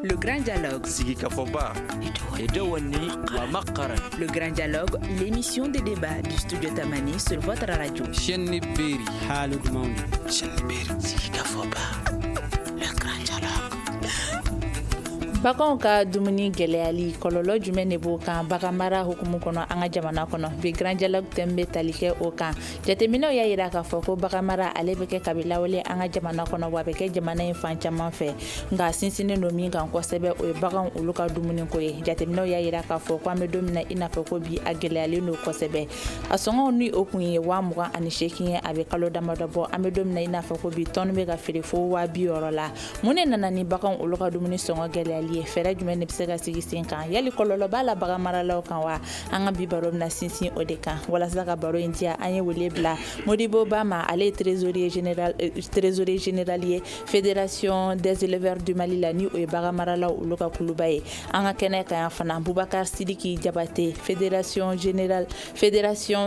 Le Grand Dialogue. Sigi Kafoba. Le Grand Dialogue, l'émission des débats du studio Tamani sur votre radio. Chenibiri. Halou Mound. Chenibiri. Sigikafɔba. Le Grand Dialogue. baganw ka dumuni gɛlɛyali kɔlɔlɔ jumɛn de b'o kan baganmara hukumu kɔnɔ an ka jamana kɔnɔ bi Grand Dialogue thème bɛ tali kɛ o kan jateminɛw y'a yira k'a fɔ ko baganmara ale bɛ kɛ kabi lawale an ka jamana kɔnɔ wa a bɛ kɛ jamana in fan caman fɛ nka sinsinnen don min kan kosɛbɛ o ye baganw olu ka dumuniko ye jateminɛw y'a yira k'a fɔ ko an bɛ don min na i n'a fɔ ko bi a gɛlɛyalen don kosɛbɛ a sɔngɔ ni o tun ye waa mugan ani seegin ye a bɛ kalo damadɔ bɔ an bɛ don min na i n'a fɔ ko bi tɔni bɛ ka feere fo waa bi wɔɔrɔ la mun de nana ni baganw olu ka dumuni sɔngɔ gɛlɛyali ye fɛɛrɛ jumɛn de bɛ se ka sigi sen kan yali kɔlɔlɔ b'a la baganmaralaw kan wa an ka bi baro bɛna sinsin o de kan walasa ka baro in diya an ye wele bila modibo ba ma ale ye trésorier général ye fédération des éleveurs du mali la ni o ye bagan maralaw olu ka kuluba ye an ka kɛnɛ kan yan fana bubakar sidiki jabate fédération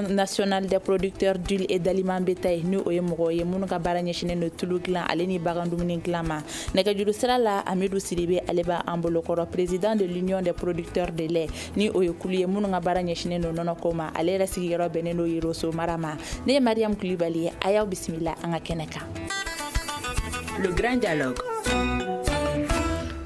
nationale des producteurs d'huile et d'aliments bétail ni o ye mɔgɔw ye minnu ka baara ɲɛsinnen don tulu dilan ale ni bagan dumuni dilan ma nɛgɛjuru sira la amidu sidibe ale bɛ an bolokɔrɔ président de l'union des producteurs de lait ni o ye kulu ye minnu ka baara ɲɛsinnen don nɔnɔ ko ma ale yɛrɛ sigiyɔrɔ bɛnnen don yoroso mara ma ne ye mariyamu kulibali ye a y'aw bisimila an ka kɛnɛ kan le grand dialogue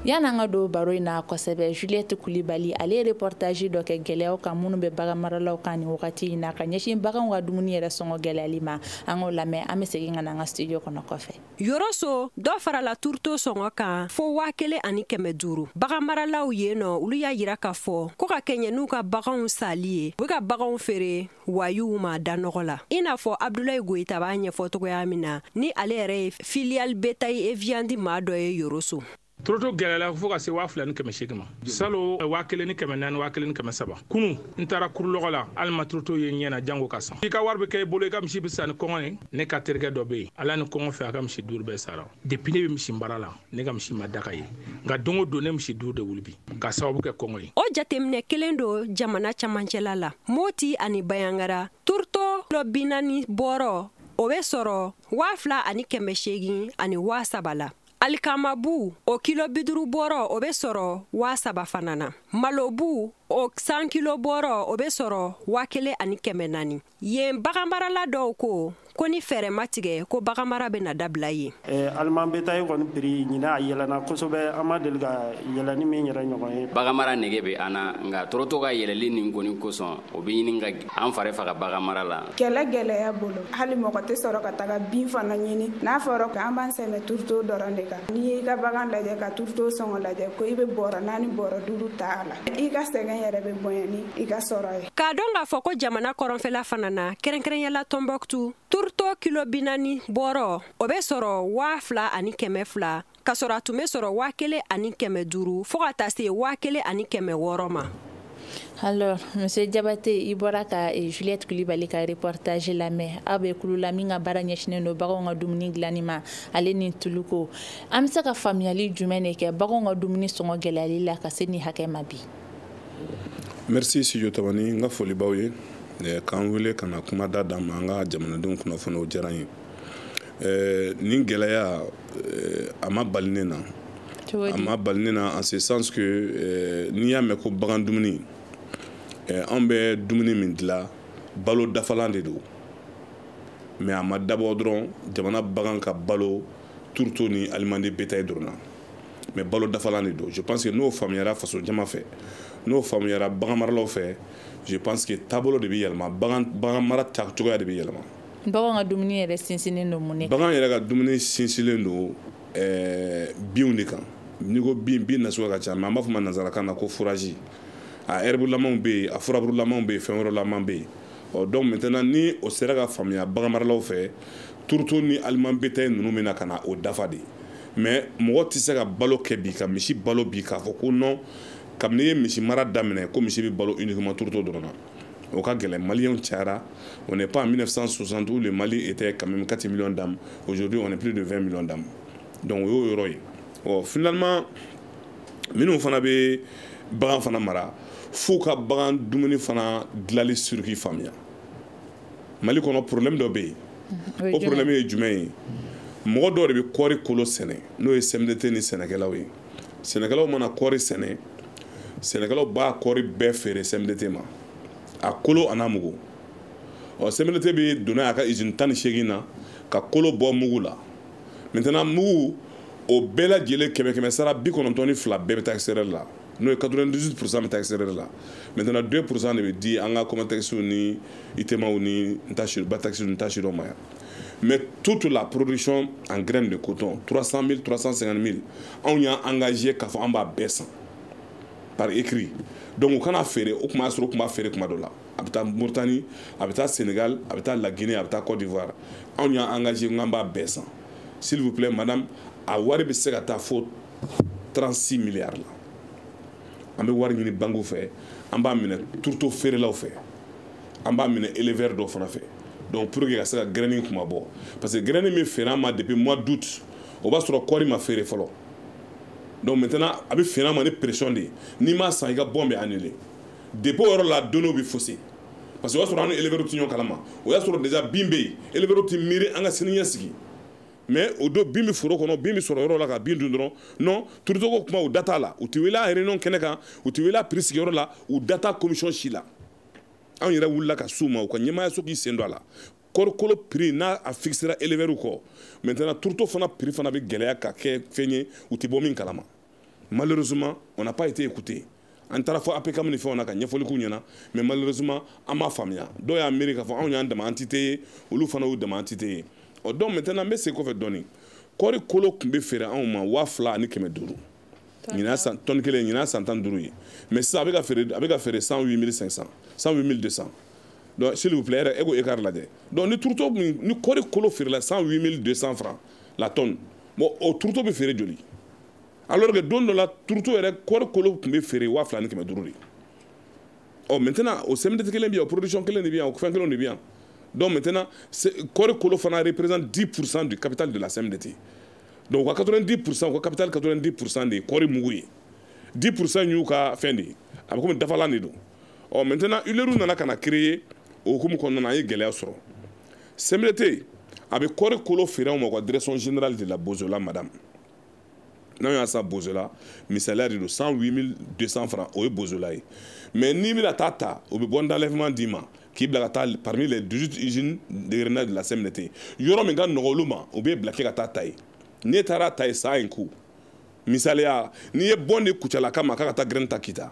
yann'an ka don baro in na kosɛbɛ juliette kulibali ale ye reportage dɔ kɛ gɛlɛyaw kan minnu bɛ bagan maralaw kan nin wagati in na ka ɲɛsin baganw ka dumuni yɛrɛ sɔngɔ gɛlɛyali ma an k'o lamɛn an bɛ segin ka na an ka studio kɔnɔ kɔfɛ yoroso dɔ farala turuto sɔngɔ kan fo waa kelen ani kɛmɛ duuru bagan maralaw yen olu y'a yira k'a fɔ ko ka kɛɲɛ n'u ka baganw sali ye u bɛ ka baganw feere wayew ma da nɔgɔ la i n'a fɔ abdulayi goyita b'a ɲɛfɔ cogoya min na ni ale yɛrɛ ye filière bétail et viande maa dɔ ye yoroso toroto gɛlɛla fo ka se waa fila ni kɛmɛ seegin ma salon waa kelen ni kɛmɛ naani waa kelen ni kɛmɛ saba kunu n taara kuri lɔgɔ la hali n ma toroto ye ɲɛ na jango k'a san i ka wari bɛ kɛ i bolo i ka misi bɛ sa ni kɔngɔ ye ne ka terikɛ dɔ bɛ yen ala ni kɔngɔ fɛ a ka misi duuru bɛɛ sara depuis ne bɛ misi baara la ne ka misi ma da k'a ye nka don o don ne misi duuru de wuli bi ka sababu kɛ kɔngɔ ye o jateminɛ kelen don jamana camancɛla la moti ani bayangara toroto kilo bi naani bɔrɔ o bɛ sɔrɔ waa fila ani kɛmɛ seegin ani waa saba la alikamabu o kilo bi duuru bɔrɔ o bɛ sɔrɔ waa saba fana na malobu o cent kilos bɔrɔ o bɛ sɔrɔ waa kelen ani kɛmɛ naani yen baganmarala dɔw ko ko ni fɛɛrɛ ma tigɛ ko baganmara bɛna dabila yen eh, aliment bétail kɔni prix ɲinan a yɛlɛna kosɛbɛ an ma deli ka yɛlɛni min yɛrɛ ɲɔgɔn ye baganmara nege bɛ an na nka toroto ka yɛlɛli nin kɔni kosɔn o bɛ ɲini ka an fari faga bagan mara la kɛlɛ gɛlɛya bolo hali mɔgɔ tɛ sɔrɔ ka taga bin fana ɲini n'a fɔra ko an b'an sɛmɛ turuto dɔrɔn de kan n'i y'i ka bagan lajɛ ka turuto sɔngɔ lajɛ ko i bɛ bɔrɔ naani bɔrɔ duuru ta a la i ka sɛgɛn yɛrɛ bɛ bonya ni i ka sɔrɔ ye k'a dɔn k'a fɔ ko jamana kɔrɔnfɛla fana na kɛrɛnkɛrɛnya la tombouctou turuto kilo binaani bɔrɔ o bɛ sɔrɔ waa fila ani kɛmɛ fila ka sɔrɔ a tun bɛ sɔrɔ waa kelen ani kɛmɛ duuru fo ka taa se waa kelen ani kɛmɛ wɔɔrɔ ma alors monsieur jabate i bɔra ka eh, juliette kulibali ka reportage lamɛn aw bɛ kulu la min ka baara ɲɛsinnen don baganw ka dumuni dilanni ma ale ni tuluko an bɛ se ka faamuyali jumɛn de kɛ baganw ka dumuni sɔngɔ gɛlɛyali la ka se nin hakɛ ma bi merci studio tamani n ka foli b'aw ye eh, k'an wele ka na kuma da d'an ma an ka jamanadenw kunnafoni o diyara n ye eh, nin gɛlɛya euh, a ma bali ne na a ma bali ne na en ce sens que euh, n'i y'a mɛn ko bagan dumuni euh, anw bɛ dumuni min dilan balo dafalan de don mais a ma dabɔ dɔrɔn jamana bagan ka balo turuto ni aliment de bétail dɔrɔn na mais balo dafalan de don je pense que n'o faamuyara faso jama fɛ n'o faamuyara bagan maralaw fɛ je pense que taabolo de bɛ yɛlɛma bagan bagan mara ta cogoya de bɛ yɛlɛma bagan ka dumuni yɛrɛ sinsinnen don mun de kan bagan yɛrɛ ka dumuni sinsinnen don eh, binw de kan n'i ko bin bin nasuguya ka ca mais an b'a fɔ ma nanzarakan na ko fourrage a ɛribulamaw bɛ yen a furaburulamaw bɛ yen fɛn wɛrɛlamaw bɛ yen ɔ donc maintenant ni o sera ka faamuya baganmaralaw fɛ turuto ni aliment bétail ninnu bɛ na ka na o dafa de mais mɔgɔ tɛ se ka balo kɛ bi ka misi balo bi k'a fɔ ko non kabini n ye misi mara daminɛ ko misi bɛ balo uniquement turuto dɔrɔn na o ka gɛlɛn maliyɛnw cayara on n'est pas en 1960 où le mali était quand même 4 millions d'âmes aujourd'hui on est plus de 20 millions d'âmes donc o y'o yɔrɔ ye ɔ finalement minnu fana bɛ bagan fana mara f'u ka bagan dumuni fana dilanni circuit faamuya mali kɔnɔ problème dɔ bɛ yen mm-hmm. o problème ye jumɛn ye mɔgɔ dɔw de bɛ kɔɔri kolo sɛnɛ n'o ye cmdt ni sɛnɛkɛlaw ye sɛnɛkɛlaw mana kɔɔri sɛnɛ sɛnɛkɛlaw b'a kɔɔri bɛɛ feere cmdt ma a kolo an'a mugu ɔ cmdt bɛ don n'a ye a ka izini tan ni seegin na ka kolo bɔ mugu la maintenant mugu o bɛɛ lajɛlen kɛmɛ kɛmɛ sara bi kɔnɔntɔn ni fila bɛɛ bɛ taa extérieur la n'o ye 98 pourcent bɛ taa extérieur la maintenant 2 pourcent de bɛ di an ka comatexw ni itemaw ni batexi ni n t'a si dɔn ma yan mais toute la production en graine de coton 300 000 350 000 anw y'an engagé k'a fɔ an b'a bɛɛ san par écrit donc u kan'a feere o tuma y'a sɔrɔ u tun b'a feere tuma dɔ la a bɛ taa Mauritanie a bɛ taa Sénégal a bɛ taa La Guinée a bɛ taa Côte d'Ivoire anw y'an engagé k'an b'a bɛɛ san s'il vous plaît madame a wari bɛ se ka taa fo 36 milliards la an bɛ wari ɲini bankiw fɛ an b'a minɛ turuto feerelaw fɛ an b'a minɛ éleveur dɔw fana fɛ donc pour que ka se ka gɛrɛni kunmabɔ parce que gɛrɛni bɛ feere an ma depuis mois d'août o b'a sɔrɔ kɔɔri ma feere fɔlɔ donc maintenant a bɛ feere an ma ni pression de ye n'i m'a san i ka bon bɛ annuler depuis o yɔrɔ la donnéew bɛ fausser parce que o y'a sɔrɔ an ni éleveur tɛ ɲɔgɔn kalama o y'a sɔrɔ déjà bin bɛ yen éleveur tɛ miiri an ka siniɲɛsigi mais o don bin bɛ foro kɔnɔ bin bɛ sɔrɔ yɔrɔ la ka bin dun dɔrɔn non turuto ko kuma u da t'a la u tɛ wele a réunion kɛnɛ kan u tɛ wele a prix sigiyɔrɔ la u da t'a commission si la anw yɛrɛ wulila ka s'u ma u ka ɲɛmaayaso k'i sen don a la kɔɔri kolo prix n'a a fixera éleveur kɔ maintenant turuto fana prix fana bɛ gɛlɛya ka kɛ fɛn ye u tɛ bɔ min kalama malheureusement on n'a pas été écouté an taara fo APCAM ni fɛnw na ka ɲɛfɔli k'u ɲɛna mais malheureusement an ma faamuya dɔw y'a miiri k'a fɔ anw y'an dama entité ye olu fana y'u dama entité ye ɔ donc maintenant n bɛ segin kɔfɛ dɔɔni kɔɔri kolo tun bɛ feere anw ma waa fila ani kɛmɛ duuru ɲinan tɔni kelen ɲinan san tan duuru ye mais sisan a bɛ ka feere a bɛ ka feere cent huit mille cinq cent cent huit mille deux cent donc s'il vous plaît yɛrɛ e k'o écart lajɛ donc ni turuto min ni kɔɔri kolo feerela cent huit mille deux cent francs la tonne bon o turuto bɛ feere joli alors que don dɔ la turuto yɛrɛ kɔɔri kolo tun bɛ feere waa fila ni kɛmɛ duuru de ɔ maintenant o CMDT kelen bɛ yan o production kelen de bɛ yan o fɛn kelenw de bɛ yan donc maintenant kɔɔri kolo fana représente 10 pourcent du capital de la CMDT donc u ka 90 pourcent u ka capital 90 pourcent de ye kɔɔri mugu ye 10 pourcent y'u ka fɛn de ye a bɛ komi dafalan de don ɔ maintenant huileriew nana ka na créer o hukumu kɔnɔna na an ye gɛlɛya sɔrɔ CMDT a bɛ kɔɔri kolo feere anw ma u ka direction générale de la bozola madame n'an y'a san bozola misaliya de don 108200 francs o ye bozola ye mais n'i bɛna taa ta o bɛ bon d'enlèvement d'i ma k'i bila ka taa parmi les 18 usines d'égrenage de la CMDT yɔrɔ min ka nɔgɔ olu ma u b'i bila k'e ka taa ta yen n'e taara ta yen ça a un coût misaliya n'i ye bon di kucalaka ma k'a ka taa graine ta kita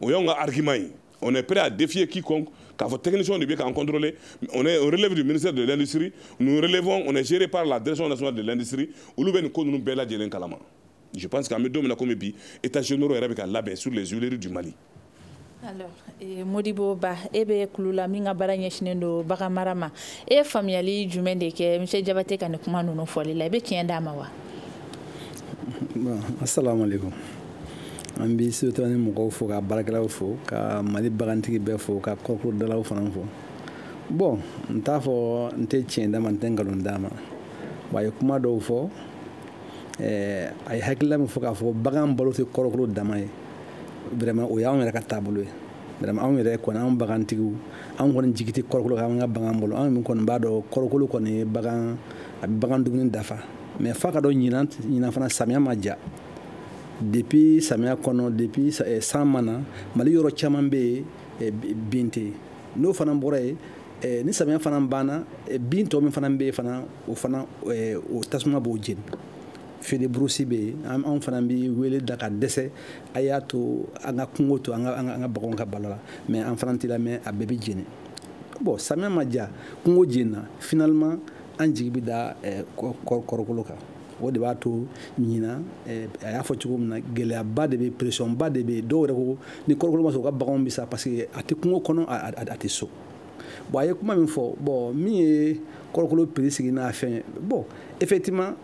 o y'anw ka argument ye on est prêt à défier quiconque k'a fɔ technicien de bɛ k'an contrôler on est on relève du ministère de l'industrie nous relevons on est géré par la direction nationale de l'industrie olu bɛ nin ko ninnu bɛɛ lajɛlen kalama je pense qu'an bɛ don min na komi bi états généraux yɛrɛ bɛ ka labɛn sur les huileries du Mali alors eh, Modibo Ba e bɛ kulu la min ka baara ɲɛsinnen don bagan mara ma e ye faamuyali jumɛn de kɛ monsieur Jabate ka nin kuma ninnu fɔli la i bɛ tiɲɛ d'a ma wa. bon asalaamaaleykum. an bɛ surtout ni mɔgɔw fo ka baarakɛlaw fo ka mali bagantigi bɛɛ fo ka kɔɔri kolo dilalaw fana fo bon n t'a fɔ n tɛ tiɲɛ d'a ma n tɛ nkalon d'a ma wa a ye kuma dɔw fɔ eh, a ye hakilila min fɔ k'a fɔ bagan balo tɛ kɔɔri kolo dama ye vraiment o y'anw yɛrɛ ka taabolo ye vraiment anw yɛrɛ kɔni anw bagantigiw anw kɔni jigi tɛ kɔɔri kolo kan an ka bagan balo anw min kɔni b'a dɔn kɔɔri kolo kɔni ye bagan a bɛ bagan dumuni dafa mais f'a ka dɔn ɲinan ɲinan fana samiya ma ja depuis samiya kɔnɔ depuis eh, san ma na mali yɔrɔ caman bɛ yen eh, bin tɛ n'o fana bɔra yen eh, ni samiya fana banna bin tɔ min fana bɛ yen fana o fana o tasuma b'o jeni feu de brousse bɛ yen anw fana bɛ wele da ka dɛsɛ a y'a to an ka kungo to an ka baganw ka balo la mais an fana tɛ lamɛn a bɛɛ bɛ jeni bon samiya ma diya kungo jenina finalement an jigi bɛ da kɔrɔkolo kan o de b'a to ɲina eh, a y'a fɔ cogo min na gɛlɛyaba de bɛ pressionba de bɛ dɔw yɛrɛ ko ni kɔrɔkolo ma sɔrɔ u ka baganw bɛ sa parce que a tɛ kungo kɔnɔ a tɛ so bon a ye kuma min fɔ bon min ye kɔrɔkolo prix sigi n'a fɛn bon effectivement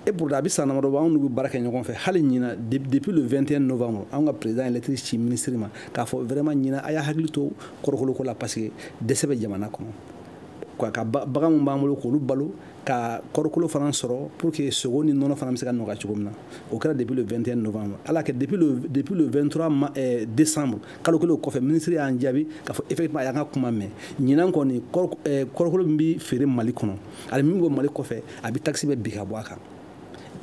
et pourtant a bɛ san damadɔ bɔ anw n'u bɛ baara kɛ ɲɔgɔn fɛ hali ɲina depuis le 21 novembre anw ka président ye lettre ci ministre ma k'a fɔ vraiment ɲina a y'a hakili to kɔrɔkolo ko la parce que dɛsɛ bɛ jamana kɔnɔ ka bagan min b'an bolo k'olu balo ka kɔrɔkolo fana sɔrɔ pour que sogo ni nɔnɔ fana bɛ se ka nɔgɔya cogo min na o kɛra depuis le 21 novembre ala kɛ depuis le depuis le 23 ma, eh, décembre kalo kelen o kɔfɛ minisiri y'an jaabi k'a fɔ effectivement a y'an ka kuma mɛn ɲinan kɔni kɔrɔkolo min bɛ feere mali kɔnɔ ani min bɛ bɔ mali kɔfɛ a bɛ taxe bɛɛ bin ka bɔ a kan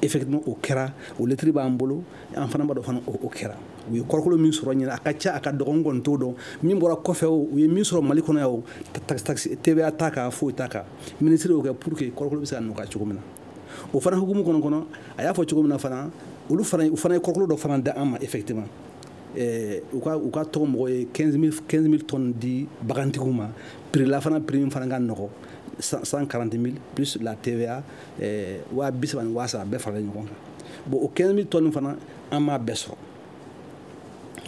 effectivement o kɛra o lettre b'an bolo an fana b'a dɔn fana o kɛra u ye kɔrɔkolo min sɔrɔ ɲina a ka ca a ka dɔgɔ n kɔni t'o dɔn min bɔra kɔfɛ o u ye min sɔrɔ mali kɔnɔ yan o taxe TVA t'a kan foyi t'a kan minisiri y'o kɛ pour que kɔrɔkolo bɛ se ka nɔgɔya cogo min na o fana hukumu kɔnɔ kɔnɔ a y'a fɔ cogo min na fana olu fana u fana ye kɔrɔkolo dɔ fana di an ma effectivement eh, u ka u ka tɔgɔ mɔgɔ ye 15000 15000 tonnes di bagantigiw ma prix la fana prix min fana ka nɔgɔ 140000 plus la TVA eh, waa bi saba ni waa saba bɛɛ faralen ɲɔgɔn kan bon o 15000 tonnes fana an m'a bɛɛ sɔrɔ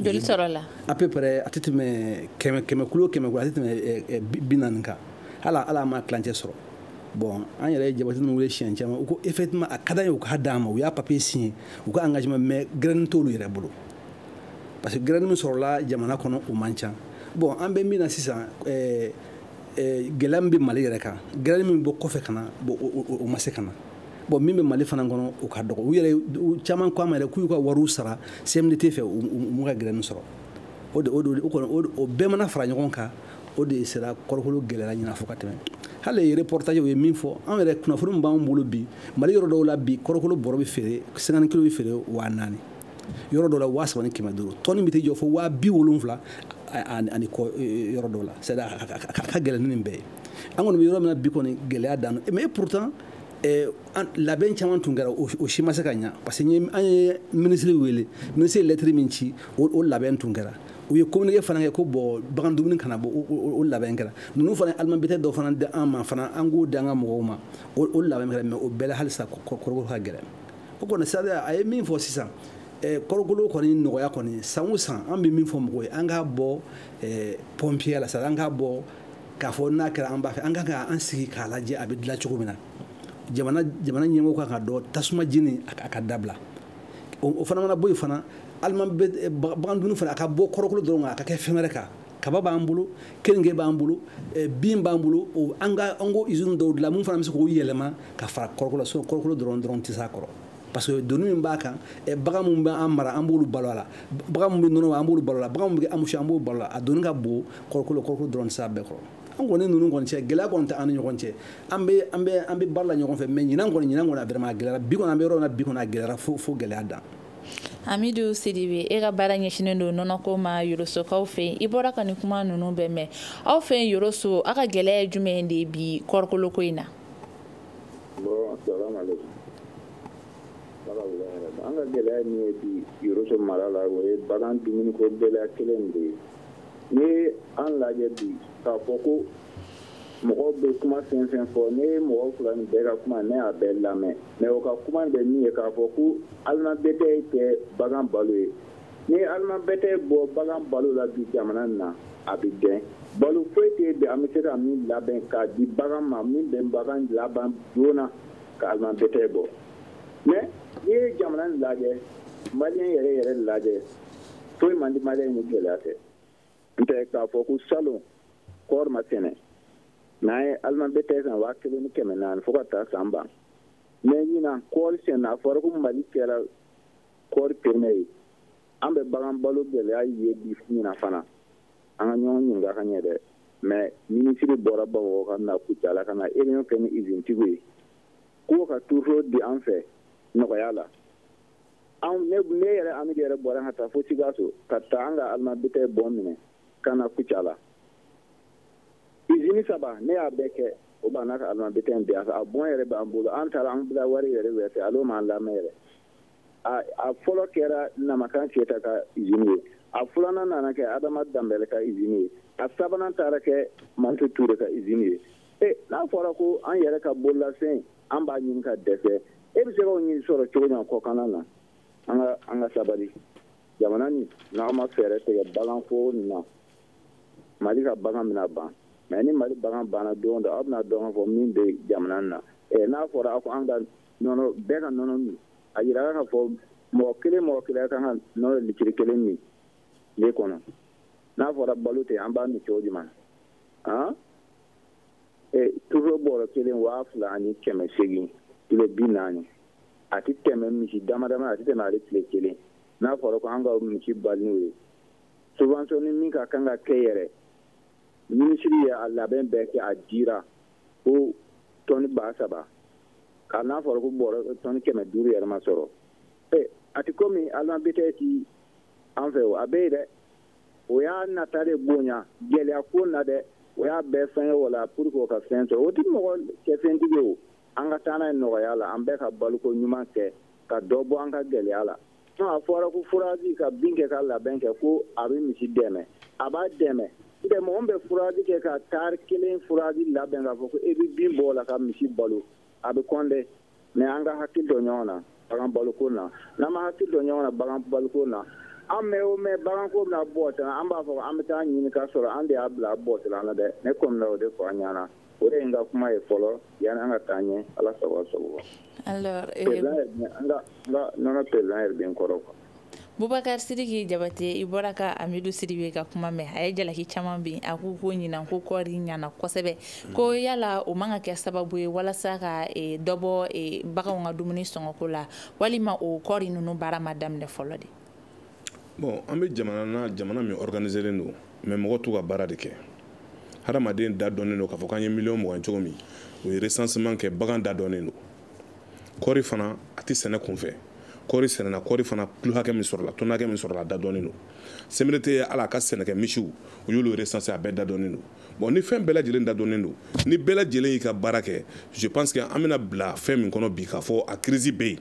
joli sɔrɔla à peu près a tɛ tɛmɛ kɛmɛ kɛmɛ kulu kɛmɛ kulu a tɛ tɛmɛ eh, eh, bi naani kan hali an m'a tilancɛ sɔrɔ bon an yɛrɛ ye jabati ninnu wele siɲɛ caman u ko effectivement a ka d'an ye u k'a d'an ma u y'a papier signé u ka engagement mais graine t'olu yɛrɛ bolo parce que graine min sɔrɔla jamana kɔnɔ o man ca bon an bɛ min na sisan ɛɛ eh, eh, gɛlɛya min bɛ mali yɛrɛ kan graine min bɛ bɔ kɔfɛ ka na bon o ma se ka na bon min bɛ mali fana kɔnɔ o ka dɔgɔ u yɛrɛ caman ko an ma yɛrɛ k'u y'u ka wariw sara CMDT fɛ u m'u ka graine sɔrɔ o de o de o kɔni o bɛɛ mana fara ɲɔgɔn kan o de sera kɔrɔkolo gɛlɛyara ɲina fo ka tɛmɛ hali reportage u ye min fɔ an yɛrɛ kunnafoni min b'an bolo bi mali yɔrɔ dɔw la bi kɔrɔkolo bɔrɔ bɛ feere 50 kilo bɛ feere waa naani yɔrɔ dɔ la waa saba ni kɛmɛ duuru tɔni bɛ t'i jɔ fo waa bi wolonwula ani kɔ yɔrɔ dɔ la c'est à dire a ka gɛlɛn ni nin bɛɛ ye an kɔni bɛ yɔrɔ min na bi kɔni gɛlɛya dan mais pourtant labɛn caman tun kɛra o si ma se ka ɲa parce que an ye minisiri wele minisiri ye lɛtiri min ci o labɛn tun kɛra u ye communiqué fana kɛ ko bon bagan dumuni kana bɔ o labɛn kɛra ninnu fana aliment bétail dɔ fana di an ma fana an k'o di an ka mɔgɔw ma o labɛn kɛra mais o bɛɛ la halisa kɔrɔkolo ka gɛlɛn o kɔni c'est-à-dire a ye min fɔ sisan eh, kɔrɔkolo kɔni nɔgɔya kɔni san o san an bɛ min fɔ mɔgɔw ye an k'a bɔ eh, pɔnpiyɛ la c'est-à-dire an k'a bɔ k'a fɔ n'a kɛra an b'a fɛ an ka kan an sigi k'a lajɛ a bɛ dilan cogo min na jamana jamana ɲɛmɔgɔ kan ka dɔn tasuma jeni a ka dabila o fana mana bɔ yen fana alimabɛ eh, bagan dumuni fana a ka bɔ kɔrɔkolo dɔrɔn kan a ka kɛ fɛn wɛrɛ kan kaba b'an bolo keninge b'an bolo eh, bin b'an bolo an ka an ko izini dɔw dilan mun fana bɛ se k'o yɛlɛma ka fara kɔrɔkolo la sinɔn kɔrɔkolo dɔrɔn dɔrɔn tɛ s'a kɔrɔ parce que doni min b'a kan eh, bagan min bɛ an mara an b'olu balo a la bagan min bɛ nɔnɔ an b'olu balo a la bagan min bɛ anbusi an b'o balo a la a doni ka bon kɔrɔkolo kɔrɔkolo dɔrɔn tɛ s'a bɛɛ kɔrɔ an kɔni ninnu kɔni cɛ gɛlɛya kɔni tɛ an ni ɲɔgɔn cɛ an bɛ an bɛ an bɛ baara la ɲɔgɔn fɛ mɛ ɲinan kɔni ɲinan kɔni a vraiment a gɛlɛyara bi kɔni an bɛ yɔrɔ min na bi kɔni a gɛlɛyara fo fo gɛlɛya dan amidu sidibe e ka baara ɲɛsinnen don nɔnɔko ma yorosokaw fɛ yen i bɔra ka nin kuma ninnu bɛɛ mɛn aw fɛ yen yoroso aw ka gɛlɛya ye jumɛn de ye bi kɔrikoloko in na an ka gɛlɛya min ye bi yoroso mara la o ye bagan dumuniko gɛlɛya kelen de ye n'i ye an lajɛ bi k'a fɔ ko mɔgɔw bɛ kuma fɛn fɛn fɔ ne ye mɔgɔ fila nin bɛɛ ka kuma ne y'a bɛɛ lamɛn mɛ o ka kuma bɛ min ye k'a fɔ ko alimabɛtɛ tɛ bagan balo ye n'i ye alimabɛtɛ bɔ bagan balo la bi jamana nin na a bɛ dɛn balo foyi tɛ bi an bɛ se ka min labɛn k'a di bagan ma min bɛ bagan laban joona ka alimabɛtɛ bɔ mɛ n'i ye jamana nin lajɛ maliyɛn yɛrɛ yɛrɛ lajɛ foyi man di maliyɛn ni gɛlɛya tɛ n tɛ k'a fɔ ko salon kɔɔri ma sɛnɛ n'an ye alimabɛtɛ san waa kelen ni kɛmɛ naani fo ka taa san ban mɛ ɲinan kɔɔri sɛnɛna a fɔra ko mali kɛra kɔɔri peremiye ye an bɛ bagan balo gɛlɛya ye bi ɲinan fana an ka ɲɔgɔn ɲininka ka ɲɛ dɛ mɛ minisiri bɔra bamakɔ ka na kucala ka na réunion kɛ ni izinitigiw ye k'o ka turuto di an fɛ nɔgɔya la anw ne ne yɛrɛ amidu yɛrɛ bɔra ka taa fo sikaso ka taa an ka alimabitɛ bɔn minɛ ka na kucala izini saba ne y'a bɛɛ kɛ o b'an ka alimabitɛ in bi a bɔn yɛrɛ b'an bolo an taara an bila wari yɛrɛ wɛrɛ fɛ olu m'an lamɛn yɛrɛ a fɔlɔ kɛra namakan keyita ka izini ye a filanan nana kɛ adama danbɛlɛ ka izini ye a sabanan taara kɛ mantu ture ka izini ye e n'a fɔra ko an yɛrɛ ka bololafɛn an b'a ɲini ka dɛsɛ e bɛ se k'o ɲini sɔrɔ cogo jumɛn kɔkanna na an ka an ka sabali jamana nin n'an ma fɛɛrɛ tigɛ baganko nin na mali ka bagan bɛna ban mɛ ni mali bagan banna don dɔ aw bɛna dɔn k'a fɔ min bɛ jamana na ɛ n'a fɔra aw ko an ka nɔnɔ bɛɛ ka nɔnɔ min a jirala k'a fɔ mɔgɔ kelen mɔgɔ kelen kan ka nɔnɔ litiri kelen min tile kɔnɔ n'a fɔra balo tɛ an b'a min cogo jumɛn han toro bɔrɔ kelen waa fila ani kɛmɛ segin kilo bi naani a tɛ tɛmɛ misi dama dama a tɛ tɛmɛ ale tile kelen n'a fɔra ko an ka misi balo n'o ye subvention ni min ka kan ka kɛ yɛrɛ minisiri ye a labɛn bɛɛ kɛ a jira ko tɔni ba saba ka n'a fɔra ko bɔrɔ tɔni kɛmɛ duuru yɛrɛ ma sɔrɔ a tɛ komi aliment bétail ti an fɛ o a bɛ yen dɛ o y'a nata de bonya gɛlɛya ko na dɛ o y'a bɛɛ fɛn ye o la pour que o ka fɛn sɔrɔ o tɛ mɔgɔ kɛ fɛntigi o an ka taa n'a ye nɔgɔya la an bɛɛ ka baloko ɲuman kɛ ka dɔ bɔ an ka gɛlɛya la sinon a fɔra ko fourrage ka bin kɛ ka labɛn kɛ ko a bɛ misi dɛmɛ a b'a dɛmɛ ntɛ mɔgɔ min bɛ fourrage kɛ ka tari kelen fourrage labɛn k'a fɔ ko e bɛ bin bɔ o la ka misi balo a bɛ kɔn dɛ mais an ka hakili to ɲɔgɔn na bagan baloko na n'an ma hakili to ɲɔgɔn na bagan baloko na a mɛɛn o mɛɛn baganko bɛna bɔ tan an b'a fɔ an bɛ taa ɲini k'a sɔrɔ an de y'a bila bɔ tan na dɛ ne kɔni o de fɔ an ɲana o de ye n ka kuma ye fɔlɔ yani an ka taa ɲɛ ala sago aw sago an ka nɔnɔ perezidan yɛrɛ bɛ n kɔrɔ quoi bubakar sidiki jabate i bɔra ka amidu sidibe ka kuma mɛn a ye jalaki caman bin a k'u ko ɲinan ko kɔɔri ɲana kosɛbɛ mm. ko yala o man ka kɛ sababu ye walasa ka e, dɔ bɔ e, baganw ka dumuni sɔngɔko la walima o kɔɔri ninnu baara ma daminɛ fɔlɔ de bon an bɛ jamana na jamana min organiselen don mais mɔgɔ t'u ka baara de kɛ hadamaden da dɔnnen don k'a fɔ k'an ye miliyɔn mugan cogo min o ye recensement kɛ bagan da dɔnnen don kɔɔri fana a tɛ sɛnɛ kunfɛ kɔɔri sɛnɛna kɔɔri fana kilo hakɛ min sɔrɔla tɔni hakɛ min sɔrɔla a da dɔnnen don CMDT ye ala ka sɛnɛkɛ misiw u y'olu recensé a bɛɛ da dɔnnen don bon ni fɛn bɛɛ lajɛlen da dɔnnen don ni bɛɛ lajɛlen y'i ka baara kɛ je pense que an bɛna bila fɛn min kɔnɔ bi k'a fɔ a crise bɛ yen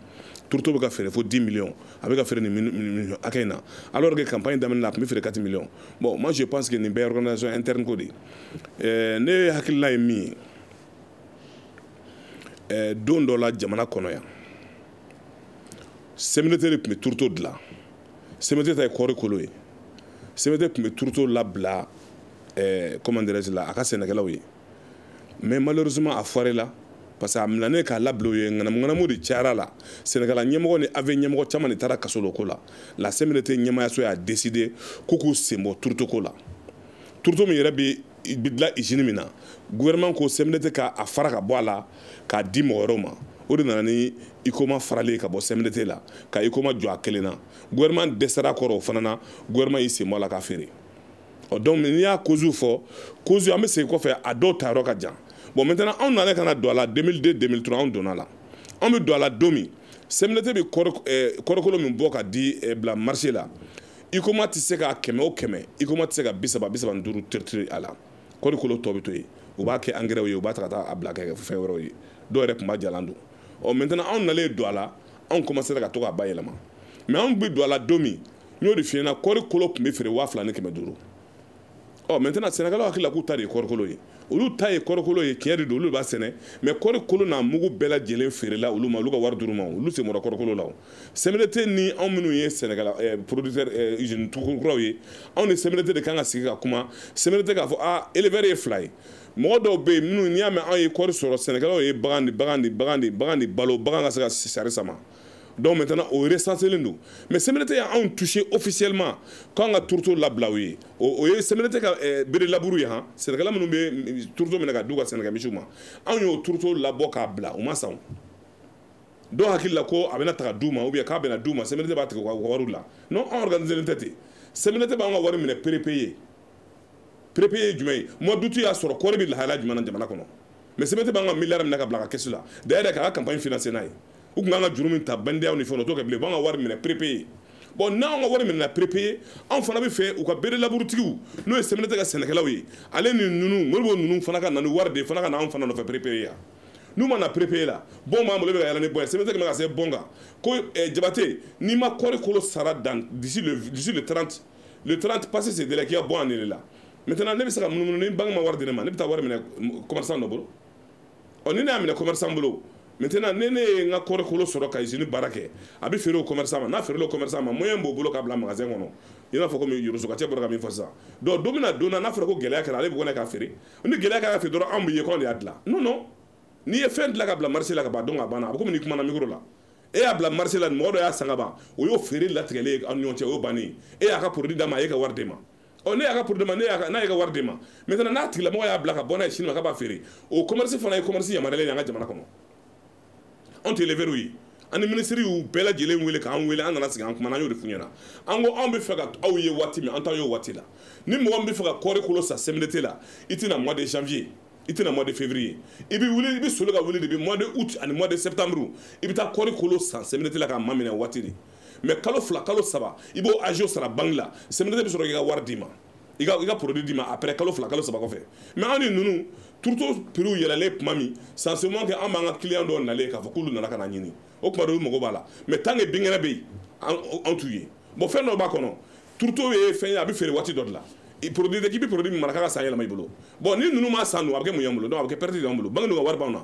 turuto bɛ ka feere fo 10 millions a bɛ ka feere nin hakɛ in na alors que campagne daminɛ la a tun bɛ feere 4 millions bon moi je pense que nin bɛɛ organisation interne ko de ye ne hakilina ye min ye don dɔ la jamana kɔnɔ yan CMDT de tun bɛ turuto dilan CMDT ta ye kɔɔri kolo ye CMDT tun bɛ turuto labila comment dirais-je la a ka sɛnɛkɛlaw ye mais malheureusement a foiré la parce que a minɛnen k'a labila u ye ŋanamuŋanamu de cayara la sɛnɛkɛla ɲɛmɔgɔ ni AV ɲɛmɔgɔ caman de taara kaso la o ko la la CMDT ɲɛmayaso y'a décidé k'u k'u sen bɔ turutoko la turuto min yɛrɛ bɛ bɛ dilan izini min na gouvernement ko CMDT ka a fara ka bɔ a la k'a di mɔgɔ wɛrɛw ma o de nana ni HUICOMA farali ye ka bɔ CMDT la ka HUICOMA jɔ a kelen na gouvernement dɛsɛra kɔrɔ o fana na gouvernement y'i sen bɔ a la k'a feere ɔ donc n'i y'a kozuw fɔ kozu an bɛ segin kɔfɛ a dɔw ta yɔrɔ ka jan bon maintenant anw nana ka na don a la 2002 2003 anw donna a la anw bɛ don a la don min CMDT bɛ kɔɔrikolo min bɔ ka di bila marché la HUICOMA tɛ se ka kɛmɛ o kɛmɛ HUICOMA tɛ se ka bi saba bi saba ni duuru triturer a la kɔɔri kolo tɔ bɛ to yen u b'a kɛ angɛrɛw ye u b'a ta ka taa a bila kɛ fɛn wɛrɛw ye dɔw yɛrɛ tun b'a jalan don ɔ maintenant anw nalen don a la anw commencera ka to k'a bayɛlɛma mais anw bɛ don a la don min n y'o de f'i ɲɛna kɔɔri kolo tun bɛ feere waa fila ni kɛmɛ duuru ɔ maintenant sɛnɛkɛlaw hakili la k'u ta de ye kɔrikolo ye olu ta ye kɔrikolo ye tiɲɛ de don olu b'a sɛnɛ mais kɔrikolo n'a mugu bɛɛ lajɛlen feerela olu ma olu ka wari d'olu ma olu sen bɔra kɔrikolo la o CMDT ni anw minnu ye sɛnɛkɛla eh, producteur eh, usine kuraw ye anw ni CMDT de kan ka sigi ka kuma CMDT k'a fɔ a éleveur ye fila ye mɔgɔ dɔw bɛ yen minnu n'i y'a mɛn anw ye kɔri sɔrɔ sɛnɛkɛlaw ye bagan de bagan de bagan de bagan de balo bagan ka se ka sari sama donc maintenant o resanselen don mais CMDT ye anw touché officiellement k'an ka turuto labila u ye o ye CMDT ka eh, bœufs de labour ye han sɛnɛkɛla minnu bɛ turuto minɛ ka d'u ka sɛnɛkɛ misiw ma anw y'o turuto labɔ k'a bila u m'a san o dɔw hakili la ko a bɛna taga d'u ma ou bien k'a bɛna d'u ma CMDT b'a tigɛ u ka wariw la non an organiselen tɛ ten CMDT b'an ka wari minɛ prépayé prépayé ye jumɛn ye mois d'août y'a sɔrɔ kɔɔri bɛ lahalaya jumɛn na jamana kɔnɔ mais CMDT b'an ka miliyari minɛ k'a bila a ka kɛsu la d'ailleurs k'a ka campagne financer n'a ye u tun kan ka juru min ta BNDAw ni fɛnw o t'o kɛ bilen u b'an ka wari minɛ prépayé bon n'anw ka wari minɛna prépayé anw fana bɛ fɛ u ka bœufs de labour tigiw n'o ye CMDT ka sɛnɛkɛlaw ye ale ni nunu moribo nunu fana ka na ni wari de fana ka na anw fana nɔfɛ prépayé yan n'u ma na prépayé la bon b'an bolo bɛ ka yaala ni bon ye CMDT quand même k'a sɛbɛn a kan ko eh, jabate n'i ma kɔri kolo sara dan d'ici le d'ici le 30 le 30 passé ce délai k'i ka bon annulela maintenant ne bɛ se ka munumunu ni banki ma wari di ne ma ne bɛ taa wari minɛ commerçant dɔ bolo ɔ ni ne y'a minɛ commerçant bolo maintenant ne ne ye n ka kɔrikolo sɔrɔ ka usine baara kɛ a bɛ feere o commerçant ma n'a feerela o commerçant ma moyen b'o bolo k'a bila magasin kɔnɔ i n'a fɔ komi yorosokacɛ bɔra ka min fɔ sisan donc don min na don na n'a fɔra ko gɛlɛya kɛra ale bɛ kɔnɔ k'a feere ni gɛlɛya kɛra k'a feere dɔrɔn aw b'a ye k'anw de y'a dilan non non n'i ye fɛn dilan ka bila marché la ka ban donc a banna a bɛ komi n'i kumana micro la e y'a bila marché la mɔgɔ dɔ y'a san ka ban o y'o feere latigɛlen ye aw ni ɲɔgɔn cɛ o y'o bannen ye e y'a ka produit d'a ma a y'e ka wari d'e ma ɔ ne y'a ka produit d'a ma ne y'a n'a ye ka wari di ma maintenant n'a tigilamɔgɔ y'a bila ka bɔ n'a ye sini ma k'a b'a feere o commerce fana ye commerce yamaruyalen ye an ka jamana kɔnɔ anw tɛ éleveurs ye ani minisiri y'u bɛɛ lajɛlen wele k'an wele an nana sigi an kumana an y'o de f'u ɲɛna an ko anw bɛ fɛ ka aw ye waati min an t'aw ye o waati la ni mɔgɔ min bɛ fɛ ka kɔɔri kolo san CMDT la i tɛna mois de janvier i tɛna mois de février i bɛ wuli i bɛ soli ka wuli depuis mois de août ani mois de septembre i bɛ taa kɔɔri kolo san CMDT la k'a maminɛ waati de mais kalo fila kalo saba i b'o agio sara banki la CMDT bɛ sɔrɔ k'i ka wari d'i ma i ka i ka produit d'i ma après kalo fila kalo saba kɔfɛ mais anw ni ninnu turuto prix yɛlɛlen tuma min sincèrement kɛ an b'an ka client dɔw nalen k'a fɔ k'olu nana ka na ɲini o tuma dɔw mago b'a la mais tant que binkɛnɛ bɛ yen anw t'u ye bon fɛn dɔ b'a kɔnɔ turuto ye fɛn ye a bɛ feere waati dɔ de la produit tɛ k'i bɛ produit min mara k'a ka san yɛlɛma i bolo bon ni ninnu m'a san dun a bɛ kɛ mun y'an bolo donc a bɛ kɛ pɛrɛti de y'an bolo banki dun ka wari b'anw na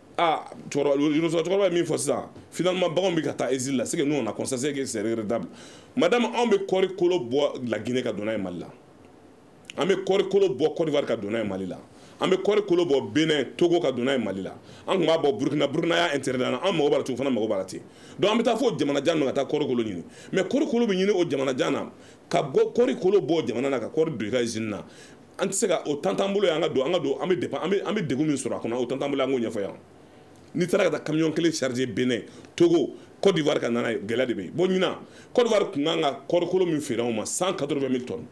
ah cɛkɔrɔba ye min fɔ sisan finalement baganw bɛ ka taa exil la c'est que nous on a constaté que c'est regrettable madame anw bɛ kɔɔri kolo bɔ la Guinée ka don n'a ye Mali la an bɛ kɔɔri kolo bɔ Côte d'Ivoire ka don n'a ye Mali la an bɛ kɔɔri kolo bɔ Benin Togo ka don n'a ye Mali la an tun b'a bɔ Burkina Burkina y'a interdit an na an mago b'a la ten u fana mago b'a la ten donc an bɛ taa fo jamana jan na ka taa kɔɔri kolo ɲini mais kɔɔri kolo bɛ ɲini o jamana jan na ka bɔ kɔɔri kolo bɔ jamana na ka kɔɔri don i ka usine na an tɛ se ka o temps t'an bolo ye an ka don an ka don an bɛ depan an bɛ an bɛ degun min sɔrɔ a kɔnɔ o temps t'an bolo an k'o ɲɛfɔ yan n'i taara ka taa camion kelen charger Benin Togo cote d'ivoire ka na n'a ye gɛlɛya de bɛ yen bon ɲinan cote d'ivoire tun kan ka kɔɔrikolo min feere anw ma cent quatre vingt mille tonnes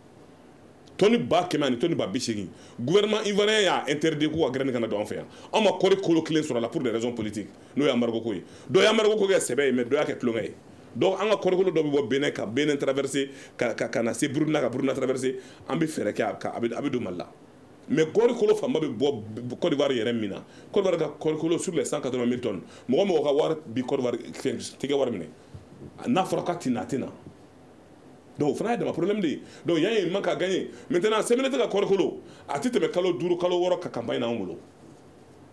tɔni ba kɛmɛ ani tɔni ba bi seegin gouvernement ivoirien y'a interdit k'u ka graine kana don an fɛ yan anw ma kɔɔri kolo kelen sɔrɔ la pour des raisons politiques n'o ye embargo ko ye dɔ ye embargo ko kɛ sɛbɛ ye mais dɔ y'a kɛ tulonkɛ ye donc an ka kɔrikolo dɔ bɛ bɔ Benin ka Benin traverser ka ka ka na se Burkina ka Burkina traverser an bɛ fɛɛrɛ kɛ a bɛ a bɛ don mali la mais kɔrikolo fanba bɛ bɔ Côte d'Ivoire yɛrɛ min na Côte d'Ivoire ka kɔrikolo sur les 180 000 tonnes mɔgɔ o mɔgɔ ka wari bi Côte d'Ivoire t'i ka wari minɛ n'a fɔra k'a tɛ na a tɛ na donc o fana y'a dama problème de ye donc yan ye manque à gagner maintenant CMDT ka kɔrikolo a tɛ tɛmɛ kalo duuru kalo wɔɔrɔ ka campagne na anw bolo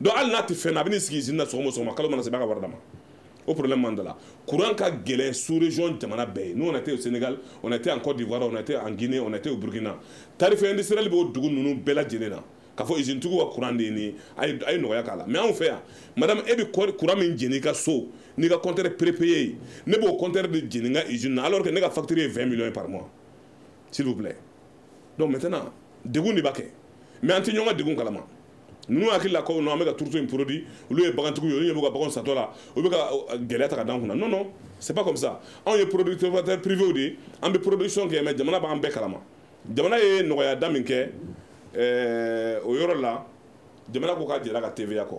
donc hali n'a tɛ fɛn na a bɛ n'i sigi usine na sɔgɔma o sɔgɔma kalo mana sa i b'a ka wari d'a ma o problème b'an da la courant ka gɛlɛn sous région jamana bɛɛ ye nous on était au Sénégal on était en Côte d'Ivoire on était en Guinée on était au Burkina tarif industriel bɛ o dugu ninnu bɛɛ lajɛlen na k'a fɔ usine tigiw ka courant de ye nin ye a ye a ye nɔgɔya k'a la mais anw fɛ yan madame e bɛ courant min jeni i ka so n'i ka compteur prépayé ye ne b'o compteur de jeni n ka usine na alors que ne ka facture ye 20 millions ye par mois s'il vous plaît donc maintenant degun de b'a kɛ mais an tɛ ɲɔgɔn ka degun kalama ninnu hakili la ko non an bɛ ka tourteau in produit olu ye bagantigiw ye olu ɲɛ b'u ka baganw satɔ la u bɛ ka gɛlɛya ta ka d'an kunna non non c'est pas comme ça anw ye producteur privé de ye an bɛ production kɛ mais jamana b'an bɛɛ kalama jamana ye nɔgɔya da min kɛ o yɔrɔ la jamana ko k'a jɛr'a ka TVA kɔ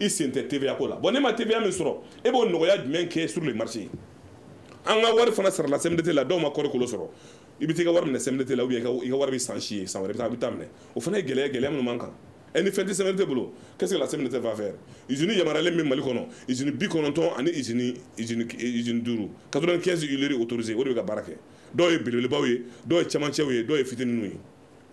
i sen tɛ TVA ko la bon ne ma TVA min sɔrɔ e b'o nɔgɔya jumɛn kɛ sur le marché an ka wari fana sarala CMDT la dɔw ma kɔri kolo sɔrɔ i bɛ t'i ka wari minɛ CMDT la ou bien i ka wari bɛ san si yen san wɛrɛ i bɛ t'a minɛ o fana ye gɛlɛya gɛlɛya minnu b'an kan ɛ ni fɛn tɛ CMDT bolo qu'est-ce que la CMDT va faire usine yamaruyalen bɛ Mali kɔnɔ usine bi kɔnɔntɔn ani usine usine usine duuru 95 huileries autorisées o de bɛ ka baara kɛ dɔw ye belebelebaw ye dɔw ye cɛmancɛw ye dɔw ye fitininw ye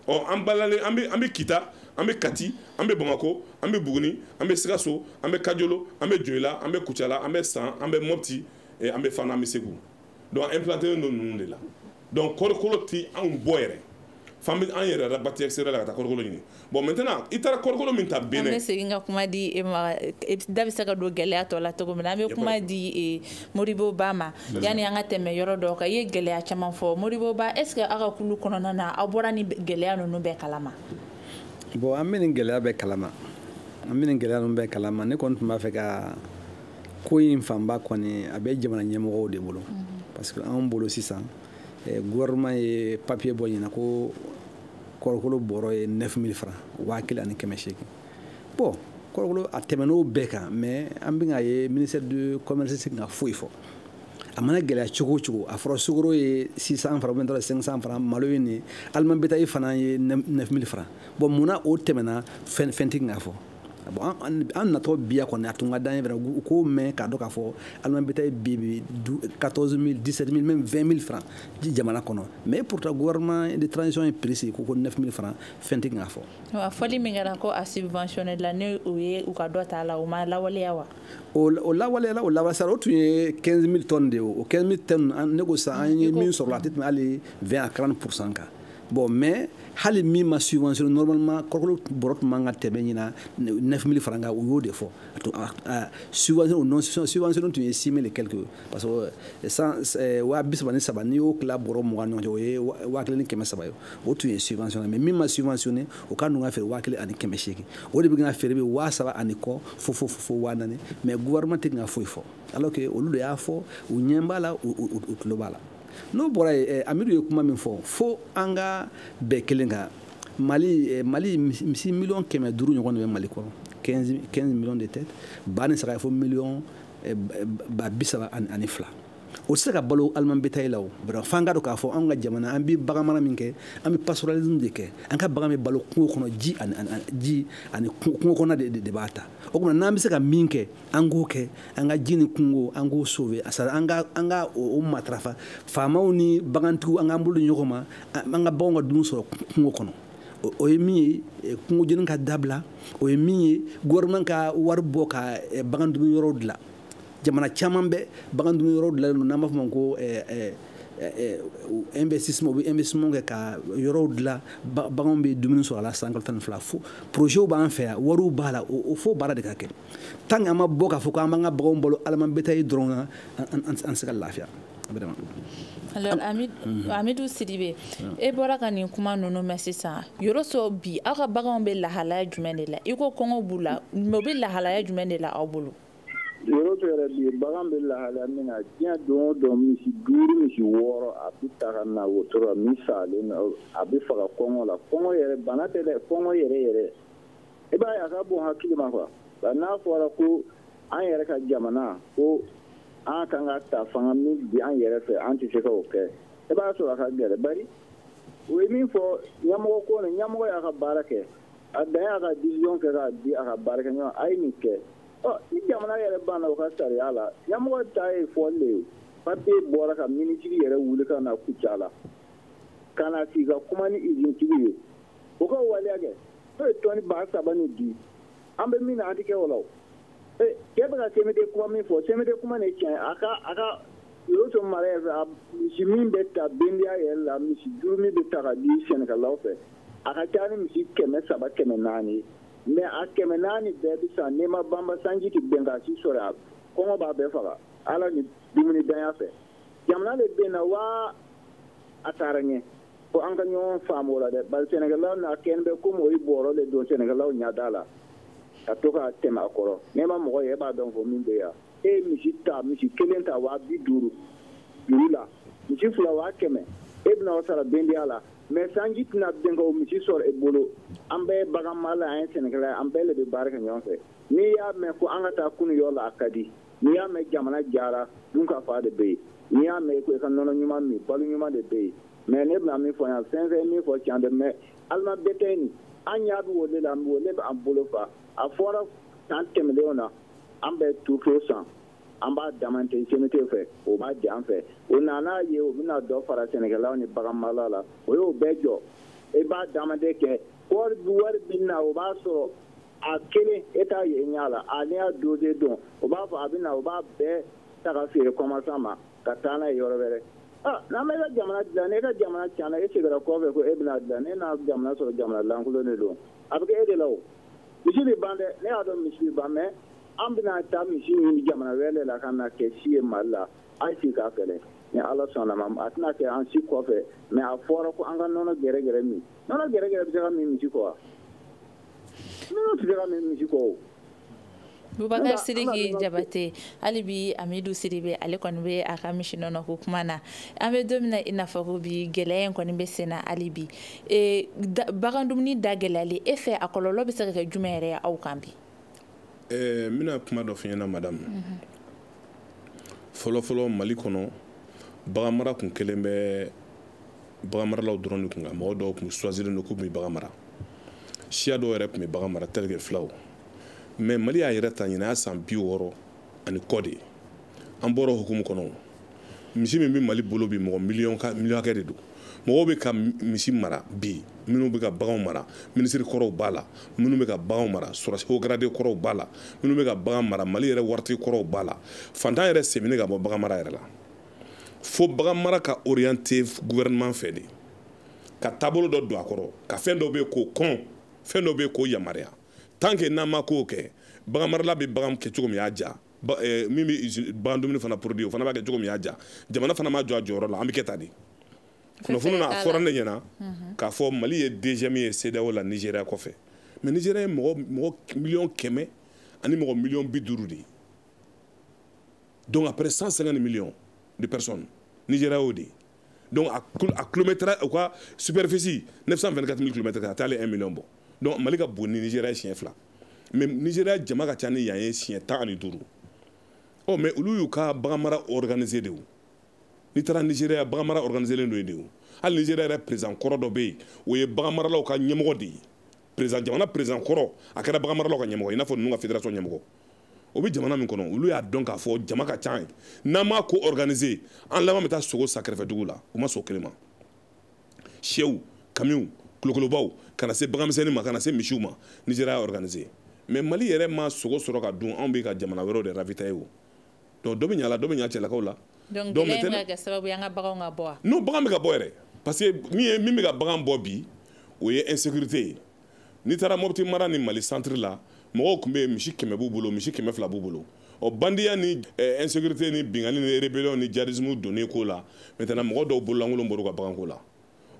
ɔ an balalen an bɛ an bɛ kita an bɛ kati an bɛ bamakɔ an bɛ buguni an bɛ sikaso an bɛ kajolo an bɛ joyila an bɛ kucala an bɛ san an bɛ mɔpti eh, an bɛ fana an bɛ segu donc an implantélen don ninnu de la donc kɔrikolo ti anw bɔ yɛrɛ f'an bɛ an yɛrɛ rabati extérieur la ka taa kɔrikolo ɲini bon maintenant i taara kɔrikolo min ta Benin an bɛ segin ka kuma di e ma e da bɛ se ka don gɛlɛya tɔ la cogo min na an bɛ kuma di e modibo ba ma yanni an ka tɛmɛ yɔrɔ dɔ kan i ye gɛlɛya caman fɔ modibo ba est ce que aw ka kulu kɔnɔna na aw bɔra nin gɛlɛya ninnu bɛɛ kalama bon an bɛ nin gɛlɛya bɛɛ kalama an bɛ nin gɛlɛya ninnu bɛɛ kalama ne kɔni tun b'a fɛ ka ko in fanba kɔni a bɛ jamana ɲɛmɔgɔw de bolo mhm. parce que anw bolo sisan eh, gouvernement ye papier bɔ ɲina ko kɔrɔkolo bɔrɔ ye 9000 francs waa kelen ani kɛmɛ seegin bon kɔrɔkolo a tɛmɛn'o bɛɛ kan mais an bɛ k'a ye ministère du commerce tɛ ka foyi fɔ a mana gɛlɛya cogo o cogo a fɔra sukaro ye 600 francs ou bien 500 francs malo ye nin aliment bétail fana ye 9000 francs bon mun na o tɛmɛna fɛn fɛn tɛ ka fɔ bon an natɔ bi yan kɔni a tun ka d'an ye fana u k'o mɛn k'a dɔn k'a fɔ aliment bétail bi bi 14000 17000 même 20000 francs jamana kɔnɔ mais pourtant gouvernement de transition ye prix sigi ko ko 9000 francs fɛn tɛ ka fɔ wa fɔli min kɛra ko a subventionné la ne o ye u ka dɔ ta la o ma lawaleya wa o lawaleyala o lawasara o tun ye 15 000 tonnes de ye o 15 000 tonnes ne ko sa an ye min sɔrɔ a tɛ tɛmɛ hali 20 à 40 pourcent kan bon mais hali min ma subventionné normalement kɔrɔkolo bɔrɔ tun man ka tɛmɛ ɲina 9 000 francs kan u y'o de fɔ subventionné o non subventionné tun ye 6 000 et quelque parce que san waa bi saba ni saba n'i y'o tila bɔrɔ mugan ni ɲɔgɔn cɛ o ye waa kelen ni kɛmɛ saba ye o tun ye subventionné mais min ma subventionné o ka ninnu ka feere waa kelen ani kɛmɛ seegin o de bɛ ka feere bi waa saba ani kɔ fo fo fo waa naani mais gouvernement tɛ ka foyi fɔ alors que olu de y'a fɔ u ɲɛ b'a la u tulo b'a la n'o bɔra yen eh, amidu ye kuma min fɔ fo an ka bɛn kelen kan mali eh, mali misi miliyɔn kɛmɛ duuru ɲɔgɔn de bɛ mali kɔnɔ 15 millions de têtes ba ni saga ye fo miliyɔn eh, ba bi saba ani fila o tɛ se ka balo aliment bétail la o fo an k'a dɔn k'a fɔ anw ka jamana an bɛ bagan mara min kɛ an bɛ pastoralisme de kɛ an ka bagan bɛ balo kungo kɔnɔ ji ani ji ani kungo kɔnɔ de de b'a ta o tuma n'an bɛ se ka min kɛ an k'o kɛ an ka ji ni kungo an k'o sauver sari an ka an ka o matarafa faamaw ni bagantigiw an k'an bolo ɲɔgɔn ma an ka baganw ka dumuni sɔrɔ kungo kɔnɔ o ye min ye eh, kungo jeni ka dabila o ye min ye gouvernement ka wari bɔ ka eh, bagan dumuni yɔrɔw dilan jamana caman bɛ bagan dumuni yɔrɔw dilanlen don n'an b'a fɔ ma ko eh, eh, eh, investissement u bɛ investissement kɛ ka yɔrɔw dilan baganw bɛ dumuni sɔrɔ a la san kalo tan ni fila fo projets b'an fɛ yan wariw b'a la o fo baara de ka kɛ tant que an ma bɔ k'a fɔ k'an b'an ka baganw balo aliment bétail dɔrɔn na an tɛ se ka lafiya. alors mhm. amidu sidibe e bɔra ka nin kuma ninnu mɛn sisan yɔrɔ sɔrɔ bi aw ka baganw bɛ lahalaya jumɛn de la i ko kɔngɔ b'u la mais u bɛ lahalaya jumɛn de la aw bolo Yɔrɔ tɛ yɛrɛ bi bagan bɛ lahalaya min na diɲɛ don o don misi duuru misi wɔɔrɔ a bɛ ta ka na wotoro la min salen don a bɛ faga kɔngɔ la kɔngɔ yɛrɛ bana tɛ dɛ kɔngɔ yɛrɛ yɛrɛ i b'a ye a ka bon hakili ma quoi nka n'a fɔra ko an yɛrɛ ka jamana ko an kan ka ta fanga min bi an yɛrɛ fɛ an tɛ se ka o kɛ i b'a sɔrɔ a ka gɛlɛn bari o ye min fɔ ɲɛmɔgɔ ko ni ɲɛmɔgɔ y'a ka baara kɛ a dan y'a ka décision kɛ k'a di a ka baarakɛɲɔgɔn a ye nin kɛ ni jamana yɛrɛ banna u ka sariya la ɲamɔgɔ ta ye fɔli de ye papiye bɔra ka minisiri yɛrɛ wuli ka na kucala ka na sigi ka kuma ni izintigiw ye u ka waleya kɛ n'o ye tɔni ba saba ni di an bɛ min na an tɛ kɛ o la ee cɛ bɛ ka CMDT kuma min fɔ CMDT kuma de tiɲɛ a ka a ka yɔrɔ to mara yɛrɛ a misi min bɛ ta bendiya yɛrɛ la misi juru min bɛ ta ka di sɛnɛkɛlaw fɛ a ka ca ni misi kɛmɛ saba kɛmɛ naani ye mais a kɛmɛ naani bɛɛ bɛ san n'i ma banba sanji tɛ bin k'a si sɔrɔ a kɔngɔ b'a bɛɛ faga ala ni dumuni ntanya fɛ jamana de binna wa a taara ɲɛ fo an ka ɲɔgɔn faamu o la dɛ bari sɛnɛkɛlaw n'a kɛlen bɛ komi o ye bɔrɔ de don sɛnɛkɛlaw ɲada la ka to ka tɛmɛ a kɔrɔ n'i ma mɔgɔ ye e b'a dɔn ko min bɛ yan e ye misi ta misi kelen ta waa bi duuru juru la misi fila waa kɛmɛ e bɛna o sara bendiya la mais sanji tɛna bin ka o misi sɔrɔ e bolo an bɛɛ ye baganmala an ye sɛnɛkɛla ye an bɛɛ le bɛ baara kɛ ɲɔgɔn fɛ n'i y'a mɛn ko an ka taa kunu yɔrɔ la a ka di n'i y'a mɛn jamana diyara dun ka fa de bɛ yen n'i y'a mɛn ko i ka nɔnɔ ɲuman min balo ɲuman de bɛ yen mais ne bɛna min fɔ yan fɛn fɛn min fɔ can dɛ mais aliment bétail nin an ɲa bɛ o le la o le b'an bolo fa a fɔra san tɛmɛnlenw na an bɛ tourteau san an b'a demander CMDT fɛ o b'a di an fɛ o na n'a ye o bɛna dɔ fara sɛnɛkɛlaw ni baganmala la o y'o bɛɛ jɔ i e b'a demande kɛ wari wari bɛ na o b'a sɔrɔ a kelen e t'a ye ɲɛ la a n'i y'a dossier don o b'a fɔ a bɛ na o b'a bɛɛ ta ka feere kɔmasan ma ka taa n'a ye yɔrɔ wɛrɛ ah, n'an bɛ ka jamana dilan n'e ka jamana tiɲɛna e seginna kɔfɛ ko e bɛna dilan e na jamana sɔrɔ jamana lankolon de don a bɛ kɛ e de la o misi bɛ ban dɛ ne y'a dɔn misi bɛ ban mais an bɛna taa misi ɲini jamana wɛrɛ la ka na kɛ si ye mali la a ye sigi k'a fɛlɛ ni ala sɔnna ma a tɛna kɛ an si kɔfɛ mais a fɔra ko an ka nɔnɔ gɛrɛgɛrɛ min nɔnɔ gɛrɛgɛrɛ bɛ se ka min misi kɔ wa nɔnɔ tɛ se ka min misi kɔ o bubakar sidiki jabate hali bi amidu sidibe ale kɔni bɛ a ka misi nɔnɔ ko kuma na an bɛ don min na i n'a fɔ ko bi gɛlɛya in kɔni bɛ sen na hali bi bagan dumuni da gɛlɛyali e fɛ a kɔlɔlɔ bɛ se ka kɛ jumɛn yɛrɛ ye aw kan bi ɛɛ n bɛna kuma dɔ f'i ɲɛna madame mhm. fɔlɔfɔlɔ mali kɔnɔ baganmara kun kɛlen bɛ baganmaralaw dɔrɔn de kun kan mɔgɔ dɔw kun choisilen don k'u bɛ bagan mara siya dɔw yɛrɛ kun bɛ bagan mara tel que filaw mais mali y'a yɛrɛ ta ɲinan y'a san bi wɔɔrɔ ani kɔ de an bɔra hukumu kɔnɔ misi min bɛ mali bolo bi mɔgɔ miliyɔn hakɛ de don mɔgɔw bɛ ka misi mara bi minnu bɛ ka baganw mara minisiri kɔrɔw b'a la minnu bɛ ka baganw mara sɔrɔsi haut gradé kɔrɔw b'a la minnu bɛ ka bagan mara mali yɛrɛ waritigi kɔrɔw b'a la fantan yɛrɛ sen bɛ ɲini ka bɔ bagan mara yɛrɛ la fo bagan mara ka orienter gouvernement fɛ de ka taabolo dɔ don a kɔrɔ ka fɛn dɔ bɛ yen k'o kɔn fɛn dɔ bɛ yen k'o yamaruya tant que n'an ma kow kɛ bagan marala bɛ bagan kɛ cogo min y'a ja eh, min bɛ bagan dumuni fana produit o fana b'a kɛ cogo min y'a ja jamana fana ma jɔ a jɔyɔrɔ la an bɛ kɛ tan de kunnafoni na a fɔra ne ɲɛna mhm. k'a fɔ mali ye deuxième ye CEDEAO la nigéria kɔfɛ mais nigéria ye mɔgɔ mɔgɔ miliyɔn kɛmɛ ani mɔgɔ miliyɔn bi duuru de ye donc après 150 millions de personnes nigéria y'o de ye donc a kilomɛtɛrɛ u ka superficie 924 000 kilomɛtɛrɛ a tɛ hali 1 million bɔ donc mali ka bon ni nigéria ye siɲɛ fila mais nigéria jama ka ca ni yan ye siɲɛ tan ani duuru ɔ mais olu y'u ka baganmara organiser de o n'i taara nigéria baganmara organiselen don yen de o hali nigéria yɛrɛ président kɔrɔ dɔ bɛ yen o ye baganmaralaw ka ɲɛmɔgɔ de ye président jamana président kɔrɔ a kɛra baganmaralaw ka ɲɛmɔgɔ i n'a fɔ ninnu ka fédération ɲɛmɔgɔ o bɛ jamana min kɔnɔ olu y'a dɔn k'a fɔ jama ka ca yen n'an m'a ko organiser an laban bɛ taa sogo san kɛrɛfɛdugu la u ma sɔn kelen ma sɛw kamiw kolokolobaw ka na se baganmisɛnnin ma ka na se misiw ma nigéria y'a organiser mais mali yɛrɛ ma sogo sɔrɔ ka dun anw bɛ ka jamana wɛrɛw de ravitailler o donc dɔ bɛ ɲa la dɔ bɛ ɲa cɛlakaw la donc gɛlɛya bɛ ka kɛ sababu ye an ka baganw ka bɔ wa non bagan bɛ ka bɔ yɛrɛ parce que min ye min bɛ ka bagan bɔ bi o ye insécurité ye n'i taara mopti mara ni mali centre la mɔgɔw tun bɛ yen misi kɛmɛ b'u bolo misi kɛmɛ fila b'u bolo ɔ bandiya ni eh, insécurité ni binkanni ni rébellion ni djihadisme donnen ko la maintenant mɔgɔ dɔw bololankolon bɔr'u ka baganko la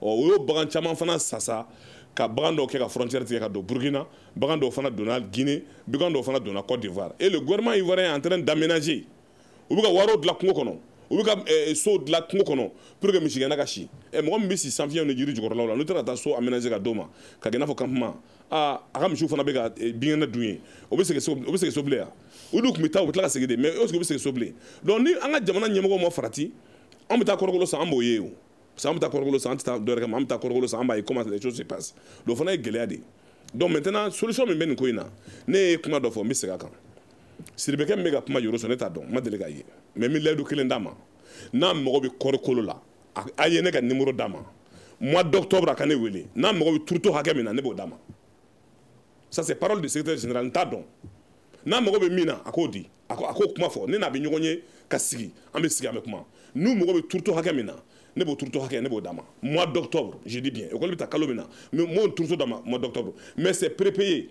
ɔ o y'o bagan caman fana sasa ka bagan dɔw kɛ ka frontière tigɛ ka don burkina bagan dɔw fana donna guinée bagan dɔw fana donna côte d'ivoire et le gouvernement ivoirien est en train d'aménager u bɛ ka wɛrɛw dilan kungo kɔnɔ u bɛ ka eh, so dilan kungo kɔnɔ pour que misigɛnna ka si eh, mɔgɔ min bɛ si sanfiyɛw ni jiri jukɔrɔlaw la n'u taara ka taa so aménager ka d'o ma ka kɛ i n'a fɔ campement aa a ka misiw fana bɛ ka eh, binkɛnɛ dun yen o bɛ segin so o bɛ segin so bilen wa u dun tun bɛ taa u bɛ tila ka segin de mais est ce que u bɛ segin so bilen donc ni an ka jamana ɲɛmɔgɔw ma farati an bɛ taa kɔɔrikolo san an b'o ye o parce que an bɛ taa kɔɔrikolo san an tɛ taa dɔwɛrɛ kama an bɛ taa kɔɔrikolo san an b'a ye comment les choses se passent donc o fana ye gɛlɛya de ye donc maintenant solution min bɛ nin ko in na ne ye kuma dɔ fɔ n bɛ segin a kan Sidibekɛ min bɛ ka kuma Yoroso ne t'a dɔn n ma deli k'a ye mais n bɛ layidu kelen d'a ma n'a mago bɛ kɔɔrikolo la a ye ne ka numéro d'a ma mois d'octobre a ka ne wele n'a mago bɛ turuto hakɛ min na ne b'o d'a ma ça c'est parole du secrétaire général n t'a dɔn n'a mago bɛ min na a k'o di a k'o kuma fɔ ne n'a bɛ ɲɔgɔn ye ka sigi an bɛ sigi an bɛ kuma n'u mago bɛ turuto hakɛ min na ne b'o turuto hakɛ ne b'o d'a ma mois d'octobre je dis bien école bɛ ta kalo min na n b'o turuto d'a ma mois d'octobre mais c'est prépayé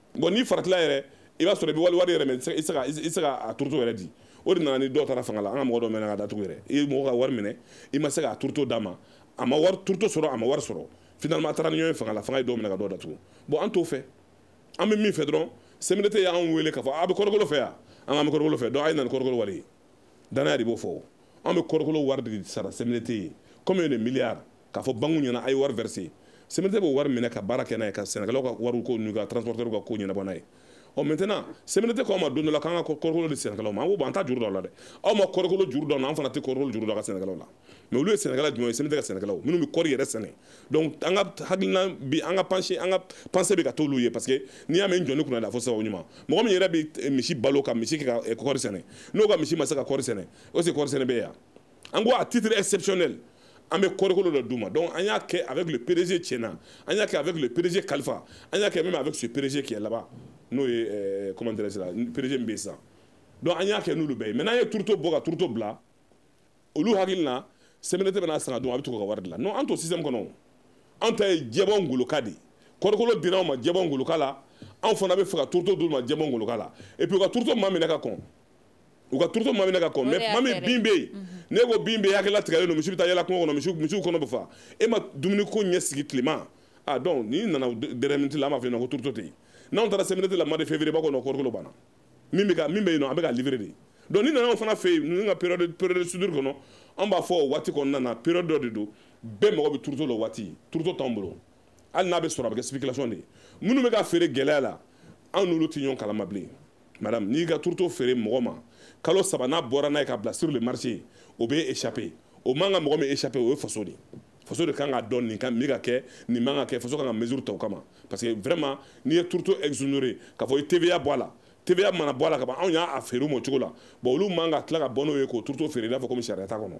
bon n'i faratila yɛrɛ i b'a sɔrɔ i bɛ wali wari yɛrɛ minɛ i tɛ se ka turuto yɛrɛ di o de nana ni dɔw taara fanga la an ka mɔgɔ dɔw minɛna ka datugu yɛrɛ i ye mɔgɔ ka wari minɛ i ma se k'a turuto d'a ma a ma wari turuto sɔrɔ a ma wari sɔrɔ finalement a taara ni ɲɔgɔn ye fanga la fanga ye dɔw minɛ ka dɔw datugu bon an t'o fɛ an bɛ min fɛ dɔrɔn CMDT y'an wele k'a fɔ a bɛ kɔɔrikolo fɛ yan an k'an bɛ kɔɔrikolo fɛ donc a ye na ni kɔɔrikolo wari ye danaya de b'o fɔ an bɛ kɔɔrikolo wari de sara CMDT ye combien de milliards k'a fɔ banque ɲɛna a ye wari verser CMDT b'o wari minɛ ka baara kɛ n'a ye ka sɛnɛkɛlaw ka wariw ko n'u ka transporteurs ka ko ɲɛnabɔ n'a ye ɔ maintenant CMDT ko an ma don dɔ la k'an ka kɔrikolo di sɛnɛkɛlaw ma an ko bon an t'a juru don la dɛ aw ma kɔrikolo juru don na an fana tɛ kɔrikolo juru don ka sɛnɛkɛlaw la mais olu ye sɛnɛkɛla jumɛn ye CMDT ka sɛnɛkɛlaw minnu bɛ kɔri yɛrɛ sɛnɛ donc an ka hakilina bi an ka penche an ka pensée bɛ ka t'olu ye parce que n'i y'a mɛn jɔnin kunnandi a fɔ sababu ɲuman mɔgɔ min yɛrɛ bɛ misi balo ka misi kɛ ka kɔri sɛnɛ n'o ka misi ma se ka kɔri sɛnɛ o se kɔri sɛnɛ bɛ yan an ko à titre exceptionnel an bɛ kɔrikolo dɔ d'u ma donc an y'a kɛ avec le PDG Tiena an y'a kɛ avec le PDG Kalifa an y'a kɛ même avec ce PDG qui est là-bas n'o ye euh, comment dirais-je la PDG min bɛ yen sisan donc an y'a kɛ n'olu bɛɛ ye maintenant an ye turuto bɔ ka turuto bila olu hakili la CMDT bɛn'a san k'a dun a bɛ to ka wari dilan non an t'o système kɔnɔ o an ta ye jɛbɔ ngoloka de ye kɔrikolo dira anw ma jɛbɔ ngoloka la anw fana bɛ fɛ ka turuto d'olu ma jɛbɔ ngoloka la et puis u ka turuto maa minɛ ka kɔn u ka turuto ma minɛ ka kɔn mais tuma min bin bɛ yen ne ko bin bɛ yen hakili latigɛlen don misi bɛ taa yala kungo kɔnɔ misiw misiw kɔnɔ bɛ fa e ma dumuni ko ɲɛ sigi tilema ah donc n'i nana dernière minute la an b'a fɔ yen nɔ ko turuto tɛ yen n'anw taara CMDT la mois de février b'a kɔnɔ kɔrikolo banna min bɛ ka min bɛ yen nɔ a bɛ ka livrer de donc n'i nana anw fana fɛ yen ninnu ka période période de soudure kɔnɔ an b'a fɔ o waati kɔnɔna na période dɔ de don bɛɛ mago bɛ turuto la o waati turuto t'anw bolo hali n'a bɛ sɔrɔ a bɛ kɛ spéculation de ye minnu bɛ ka feere gɛlɛya la anw n'olu tɛ ɲɔgɔn kalama bilen madame n'i ka turuto feere mɔgɔ ma kalo saba n'a bɔra n'a ye k'a bila sur le marché o bɛ échapper o man ka mɔgɔ min échapper o ye faso de ye faso de kan k'a dɔn nin ka min ka kɛ nin man ka kɛ faso kan ka mesure ta o kama parce que vraiment n'i ye turuto exonérer k'a fɔ i TVA bɔ a la TVA mana bɔ a la ka ban anw y'a feere u ma o cogo la bon olu man ka tila ka bɔ n'o ye k'o turuto feere i n'a fɔ komi sariya t'a kɔnɔ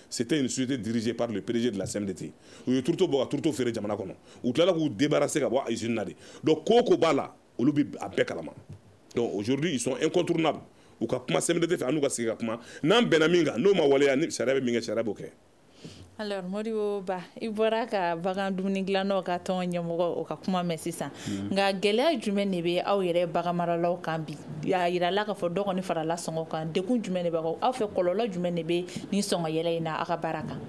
c'était une société dirigée par le PDG de la CMDT u ye turuto bɔ ka turuto feere jamana kɔnɔ u tilala k'u débarrasser ka bɔ usine na de donc ko o ko b'a la olu bɛ a bɛɛ kalama donc aujourd'hui ils sont incontournables u ka kuma CMDT fɛ an n'u ka sigi ka kuma n'an bɛnna min kan n'o ma waleya ni sariya bɛ min kɛ sariya b'o kɛ alors Modibo Ba i bɔra ka bagan dumuni dilannaw ka tɔn ɲɛmɔgɔ o ka kuma mɛn sisan hmm. nka gɛlɛya jumɛn de bɛ aw yɛrɛ bagan maralaw kan bi a yirala k'a fɔ dɔ kɔni farala sɔngɔ kan degun jumɛn de b'aw fɛ kɔlɔlɔ jumɛn de bɛ nin sɔngɔ yɛlɛ in na aw ka baara kan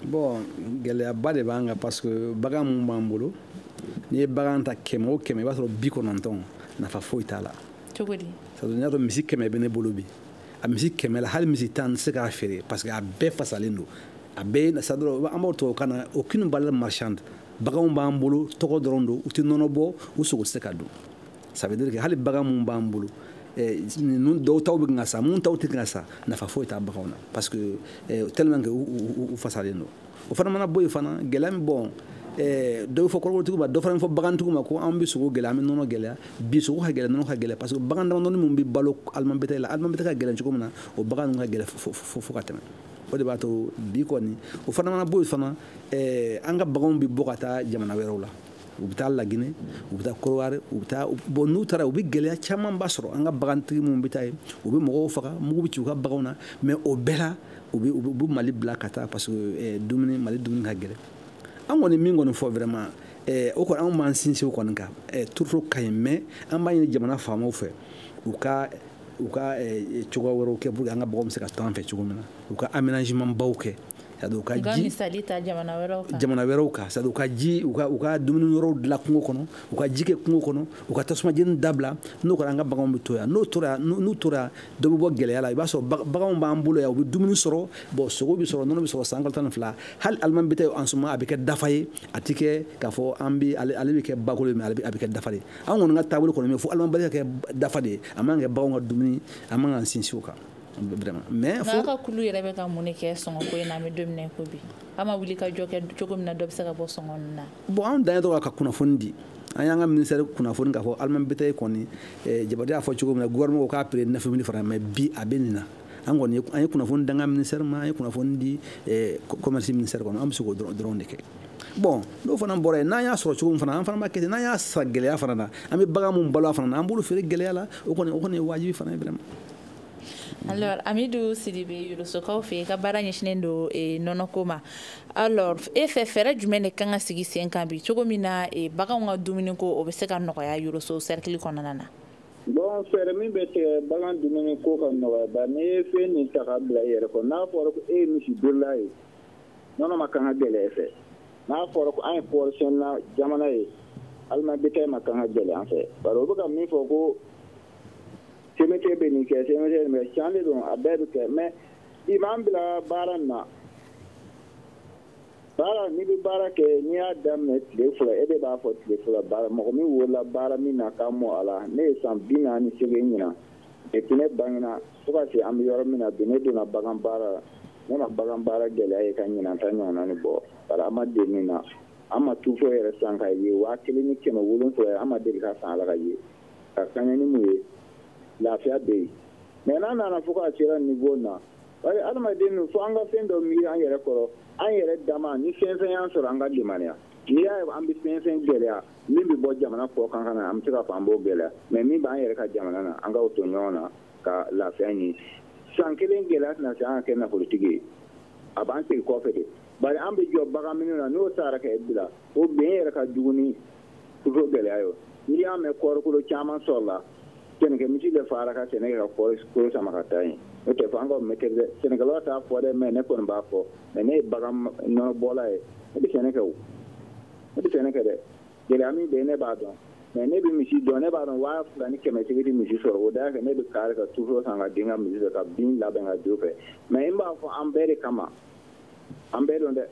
bon gɛlɛyaba de b'an kan parce que bagan mun b'an bolo n'i ye bagan ta kɛmɛ o kɛmɛ i b'a sɔrɔ bi kɔnɔntɔn nafa foyi t'a la cogo di sabu n'i y'a sɔrɔ misi kɛmɛ bɛ ne bolo bi a misi kɛmɛ la hali misi tan tɛ se ka feere parce que a bɛɛ fasalen don a bɛɛ c'est-à-dire an b'o tubabu kan na aucune valeur marchande baganw b'an bolo tɔgɔ dɔrɔn don u tɛ nɔnɔ bɔ u sogo tɛ se ka dun ça veut dire que hali bagan mun b'an bolo eh, ninnu dɔw taw bɛ kan ka sa mun taw tɛ kan ka sa nafa foyi t'a baganw na parce que eh, tellement que u fasalen don o fana mana bɔ yen fana gɛlɛya min bon eh, dɔ bɛ fɔ kɔɔrikolotigiw ma dɔ fana bɛ fɔ bagantigiw ma ko an bɛ sogo gɛlɛya an bɛ nɔnɔ gɛlɛya bi sogo ka gɛlɛn nɔnɔ ka gɛlɛn parce que bagan damadɔni minnu bɛ balo aliment bétail la aliment bétail ka gɛlɛn cogo min na o bagan ninnu ka gɛlɛn fo ka tɛmɛ o de b'a to bi kɔni o fana mana bɔ yen fana eh, an ka baganw bɛ bɔ ka taa jamana wɛrɛw la u bɛ taa lagine u bɛ taa kɔdiwari u bɛ taa bon n'u taara u bɛ gɛlɛya camanba sɔrɔ an ka bagantigi minnu bɛ taa yen u bɛ mɔgɔw faga mugu bɛ ci u ka baganw na mais o bɛɛ la u bɛ u bɛ mali bila ka taa parce que eh, dumuni mali dumuni ka gɛlɛn an kɔni min kɔni fɔ vraiment eh, o kɔni anw b'an sinsin o kɔni kan eh, tourteau ka ɲi mais an b'a ɲini jamana faamaw fɛ u ka u ka cogoya wɛrɛw kɛ pour que an ka baganw bɛ se ka to an fɛ cogo min na u ka aménagement baw kɛ c'est-à-dire u ka ji misali ta jamana wɛrɛw kan jamana wɛrɛw kan c'est-à-dire u ka ji u ka u ka dumuni yɔrɔw dilan kungo kɔnɔ u ka ji kɛ kungo kɔnɔ u ka tasuma jeni dabila n'o kɛra an ka baganw bɛ to yan n'o tora n'u tora dɔ bɛ bɔ gɛlɛya la i b'a sɔrɔ baganw b'an bolo yan u bɛ dumuni sɔrɔ bon sogo bɛ sɔrɔ nɔnɔ bɛ sɔrɔ san kalo tan ni fila hali aliment bétail en ce moment a bɛ kɛ dafa ye a tɛ kɛ k'a fɔ an bɛ ale bɛ kɛ bakolo ye mais a bɛ kɛ dafa de ye an kɔni ka taabolo kɔni bɛ fo aliment bétail ka kɛ dafa de ye a man kɛ baganw ka dumuni a man kan sinsin o kan mais aw ka kulu yɛrɛ bɛ ka mun de kɛ sɔngɔko in na an bɛ don min na ko bi aw ma wulikajɔ kɛ cogo min na dɔ bɛ se ka bɔ sɔngɔ na bon anw dan ye dɔrɔn ka kunnafoni di an y'an ka ministère kunnafoni k'a fɔ aliment bétail kɔni eh, jabate y'a fɔ cogo min na gouvernement ko k'a prix neuf mille francs mais bi a bɛ nin na an kɔni an ye kunnafoni di an ka ministère ma an ye kunnafoni di eh, commerce ministère kɔnɔ an bɛ se k'o dɔrɔn de kɛ bon n'o fana bɔra yen n'an y'a sɔrɔ cogo min fana an fana b'a kɛ ten n'an y'a san gɛlɛya fana na an bɛ bagan mun balo a fana na an b'olu feere gɛlɛya la o kɔni o kɔni ye wajibi fana ye vraiment alors amidu sidibe yorosokaw fɛ i ka baara ɲɛsinnen don eh, nɔnɔko ma alors e fɛ fɛɛrɛ jumɛn de kan ka sigi sen kan bi cogo min na eh, baganw ka dumuniko o bɛ se ka nɔgɔya yoroso sɛrikili kɔnɔna na bon fɛɛrɛ min bɛ tigɛ bagan dumuni ko ka nɔgɔya ba n'i ye fɛn nin ta ka bila i yɛrɛ kɔ n'a fɔra ko e ye misi birila ye nɔnɔ man kan ka gɛlɛya e fɛ n'a fɔra ko an ye kɔɔrisɛnɛna jamana ye aliment bétail man kan ka gɛlɛya an fɛ bari o bɛ ka min fɔ ko CMDT bɛ nin kɛ CMDT nin bɛɛ can de don a bɛɛ bɛ kɛ mɛ i m'an bila baara nin na baara n'i bɛ baara kɛ n'i y'a daminɛ tile fila e de b'a fɔ tile fila baara mɔgɔ min wolola baara min na ka mɔ a la ne ye san bi naani ni seegin ɲinan epi ne bangena fo ka se an bɛ yɔrɔ min na bi ne donna bagan baara la ne ma bagan baara gɛlɛya ye ka ɲinan ta ɲɔgɔnna ni bɔ bari an ma deli min na an ma turuto yɛrɛ san ka ye waa kelen ni kɛmɛ wolonfila ye an ma deli ka san ala ka ye ka kaɲɛ ni mun ye lafiya bɛ yen mɛ n'a nana fo k'a sera nivo na bari adamaden min fo an ka fɛn dɔ miiri an yɛrɛ kɔrɔ an yɛrɛ dama ni fɛn fɛn y'an sɔrɔ an ka limaniya n'i y'a ye an bɛ fɛn fɛn gɛlɛya min bɛ bɔ jamana kɔ kan ka na an bɛ se k'a fɔ an b'o gɛlɛya mɛ min b'an yɛrɛ ka jamana na an ka o to ɲɔgɔn na ka lafiya ɲini san kelen gɛlɛya tɛna se an ka kɛ nafolotigi ye a b'an segin kɔfɛ de bari an bɛ jɔ bagan minnu na n'o sara ka bila o bɛn yɛrɛ ka jugu ni turuto gɛlɛya ye n'i y'a mɛn kɔɔrikolo caman sɔrɔla sɛnɛkɛ misi de fara ka sɛnɛ kɛ ka kɔɔrikolo sama ka taa yen n'o tɛ fɔ an ka mɛtɛ dɛ sɛnɛkɛlaw t'a fɔ dɛ mɛ ne kɔni b'a fɔ mɛ ne ye bagan nɔnɔ bɔla ye ne bɛ sɛnɛ kɛ o ne bɛ sɛnɛ kɛ dɛ gɛlɛya min bɛ yen ne b'a dɔn mɛ ne bɛ misi dɔn ne b'a dɔn waa fila ni kɛmɛ seegin misi sɔrɔ o da kɛ ne bɛ kari ka turuto san ka di n ka misi fɛ ka bin labɛn ka jo fɛ mɛ n b'a fɔ an bɛɛ de kama an bɛɛ don dɛ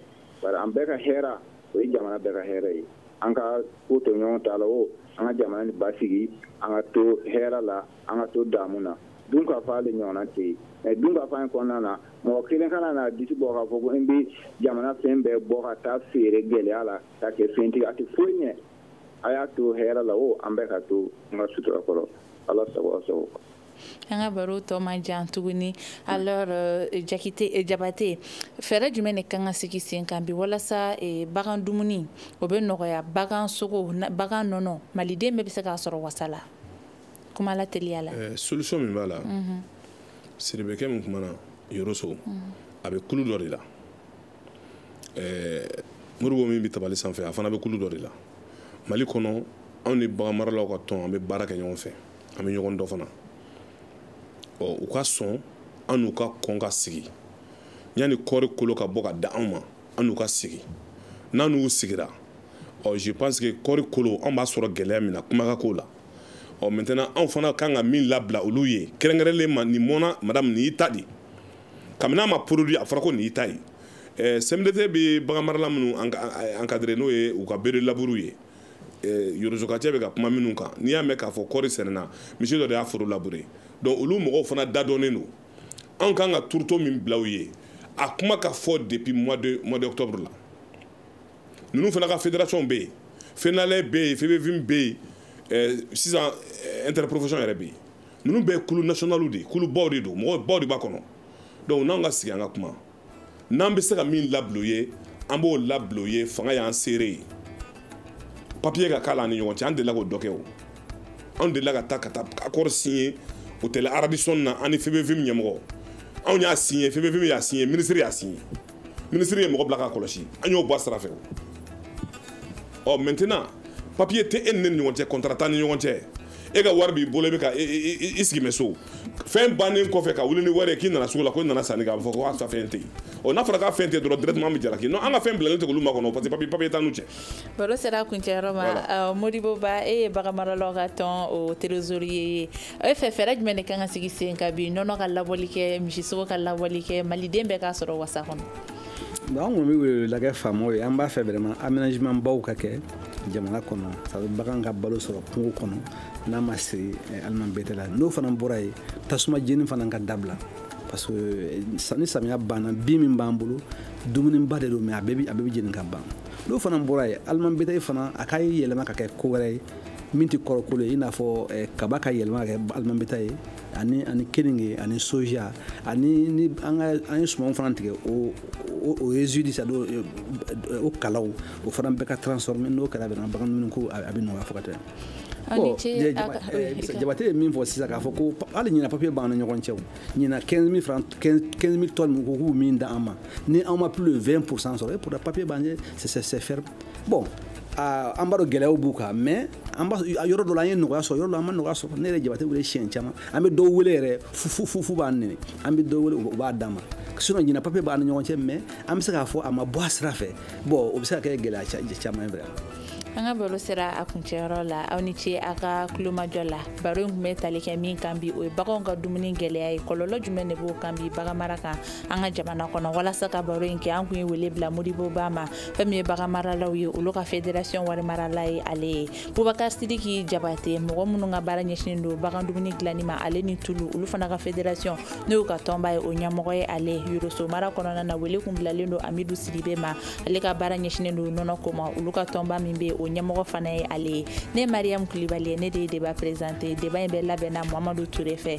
bari an bɛɛ ka hɛra o ye jamana bɛɛ ka hɛrɛ ye an ka ko to ɲɔgɔn ta la o an ka jamana ni basigi an ka to hɛrɛ la an ka to damu na dun ka fa ale ɲɔgɔnna tɛ yen mɛ dun ka fa in kɔnɔna na mɔgɔ kelen kana na disi bɔ k'a fɔ ko n bɛ jamana fɛn bɛɛ bɔ ka taa feere gɛlɛya la ka kɛ fɛntigi a tɛ foyi ɲɛ a y'a to hɛrɛ la o an bɛɛ ka to n ka sutura kɔrɔ ala sago aw sago an ka baro tɔ man jan tuguni alors euh, jakite euh, jabate fɛɛrɛ jumɛn de kan ka sigi sen kan bi walasa euh, bagan dumuni o bɛ nɔgɔya bagan sogo bagan nɔnɔ maliden bɛɛ bɛ se k'a sɔrɔ wasa la kuma la teliya la solution min b'a la mhm. sidibekɛ min kumana yoroso mhm. a bɛ kulu dɔ de la ɛɛ modibo min bɛ tabali sanfɛ a fana bɛ kulu dɔ de la mali kɔnɔ anw ni bagan maralaw ka tɔn an bɛ baara kɛ ɲɔgɔn fɛ an bɛ ɲɔgɔn dɔn fana ɔ u ka sɔn an n'u ka kɔn ka sigi yanni kɔɔri kolo ka bɔ ka da anw ma an n'u ka sigi n'an n'u sigira ɔ je pense que kɔɔri kolo anw b'a sɔrɔ gɛlɛya min na kuma ka k'o la ɔ maintenant anw fana kan ka min labila olu ye kɛrɛnkɛrɛnlen ma nin mɔna madame nin y'i ta de kabini a ma produit a fɔra ko nin y'i ta ye eh, CMDT bɛ bagan marala minnu encadré n'o ye u ka bœufs de labour ye eh, yorosokacɛ bɛ ka kuma minnu kan n'i y'a mɛn k'a fɔ kɔɔri sɛnɛna misi dɔ de y'a foro labure donc olu mɔgɔw fana da dɔnnen don anw kan ka turuto min bila u ye a kuma ka fɔ depuis mois de mois d'octobre la ninnu fana ka fédération bɛ yen FENALAIT bɛ yen FEBEVIM bɛ yen eh, sisan eh, interprofession yɛrɛ bɛ yen ninnu bɛɛ ye kulu nationaliw de ye kulu baw de don mɔgɔ baw de b'a kɔnɔ donc n'anw ka sigi an ka kuma n'an bɛ se ka min labila u ye an b'o labila u ye fanga y'an seere ye papiye ka k'a la an ni ɲɔgɔn cɛ an delila k'o dɔ kɛ o anw delila ka taa ka taa accord signé hôtel radisson na an ni febevim ɲɛmɔgɔ anw y'a signé febevim y'a signé minisiri y'a signé minisiri ye mɔgɔ bila k'a kɔlɔsi an y'o bɔ a sira fɛ ɔ maintenant papiye tɛ e ni ne ni ɲɔgɔn cɛ contrat t'an ni ɲɔgɔn cɛ e ka wari b'i bolo i bɛ ka i sigi mɛ so fɛn bannen kɔfɛ ka wuli ni wari ye k'i nana sugu la ko i nana sanni kɛ a bɛ fɔ ko a ka fɛn tɛ yen ɔ n'a fɔra k'a fɛn tɛ yen dɔrɔn directement an bɛ jalaki non an ka fɛn bilalen tɛ olu makɔnɔ parce que papier papier t'an n'u cɛ. baro sera kuncɛyɔrɔ ma modibo ba e ye baganmaralaw ka tɔn o trésorier ye e fɛ fɛɛrɛ jumɛn de kan ka sigi sen kan bi nɔnɔ ka labɔli kɛ misisogo ka labɔli kɛ maliden bɛɛ k'a sɔrɔ wasa kɔnɔ. bon an kɔni bɛ weleweleda kɛ faamaw ye an b'a fɛ vraiment aménagement baw ka kɛ jamana kɔnɔ sabu bagan ka balo sɔrɔ kungo kɔnɔ n'a ma siri eh, aliment bétail la n'o fana bɔra yen tasuma jeni fana ka dabila parce que eh, ni samiya banna bin min b'an bolo dumuniba de don mais a bɛɛ bɛ jeni ka ban n'o fana bɔra yen aliment bétail fana a ka yɛlɛma ka kɛ ko wɛrɛ ye min tɛ kɔɔrikolo ye i n'a fɔ eh, kaba ka yɛlɛma ka kɛ aliment bétail ye ani ani keninge ani soja ani ni an ka an ye sumanw fana tigɛ o o o résidu sa o kalaw o fana bɛɛ ka transformer n'o kɛra bɛna bagan dumuni ko a bɛ nɔgɔya fo ka tɛmɛ jabate ye min fɔ sisan k'a fɔ ko hali ɲina papiye b'an ni ɲɔgɔn cɛ ɲina 15000 francs 15000 tonnes min ko k'u min da an ma ni an ma plus de 20 pourcent sɔrɔ et pourtant papiye b'an ye c'est c'est ferme bon an b'a dɔn gɛlɛyaw b'u kan mais an b'a yɔrɔ dɔ la an ye nɔgɔya sɔrɔ yɔrɔ dɔ la an ma nɔgɔya sɔrɔ ne yɛrɛ jabate wele siɲɛ caman an bɛ dɔw wele yɛrɛ fo fo f'u b'an nɛni an bɛ dɔw wele u b'a d'an ma sinon ɲina papiye b'an ni ɲɔgɔn cɛ mais an bɛ se k'a fɔ a ma bɔ a sira fɛ bon o bɛ se ka kɛ gɛlɛya caman ye vraiment an ka baro sera a kuncɛyɔrɔ la aw ni ce a ka kulomajɔ la baro in kun bɛ tali kɛ min kan bi o ye baganw ka dumuni gɛlɛya ye kɔlɔlɔ jumɛn de b'o kan bi baganmara kan an ka jamana kɔnɔ walasa ka baro in kɛ an kun ye wele bila modibo ba ma fɛn min ye baganmaralaw ye olu ka federasiyɔn warimarala ye ale ye bubakar sidiki jabate mɔgɔ minnu ka baara ɲɛsinen don bagan dumuni dilanni ma ale ni tulu olu fana ka federasiyɔn n'o y'u ka tɔnba ye o ɲɛmɔgɔ ye ale yoroso mara kɔnɔna na wele kun bilalen don amidu sidibe ma ale ka baara ɲɛsinen don nɔnɔ ko ma olu ka tɔnba min bɛ yen o ɲɛmɔgɔ fana ye ale ye ne mariyamu kulibali ye ne de ye deba perezante deba in bɛɛ labɛnna mamadu ture fɛ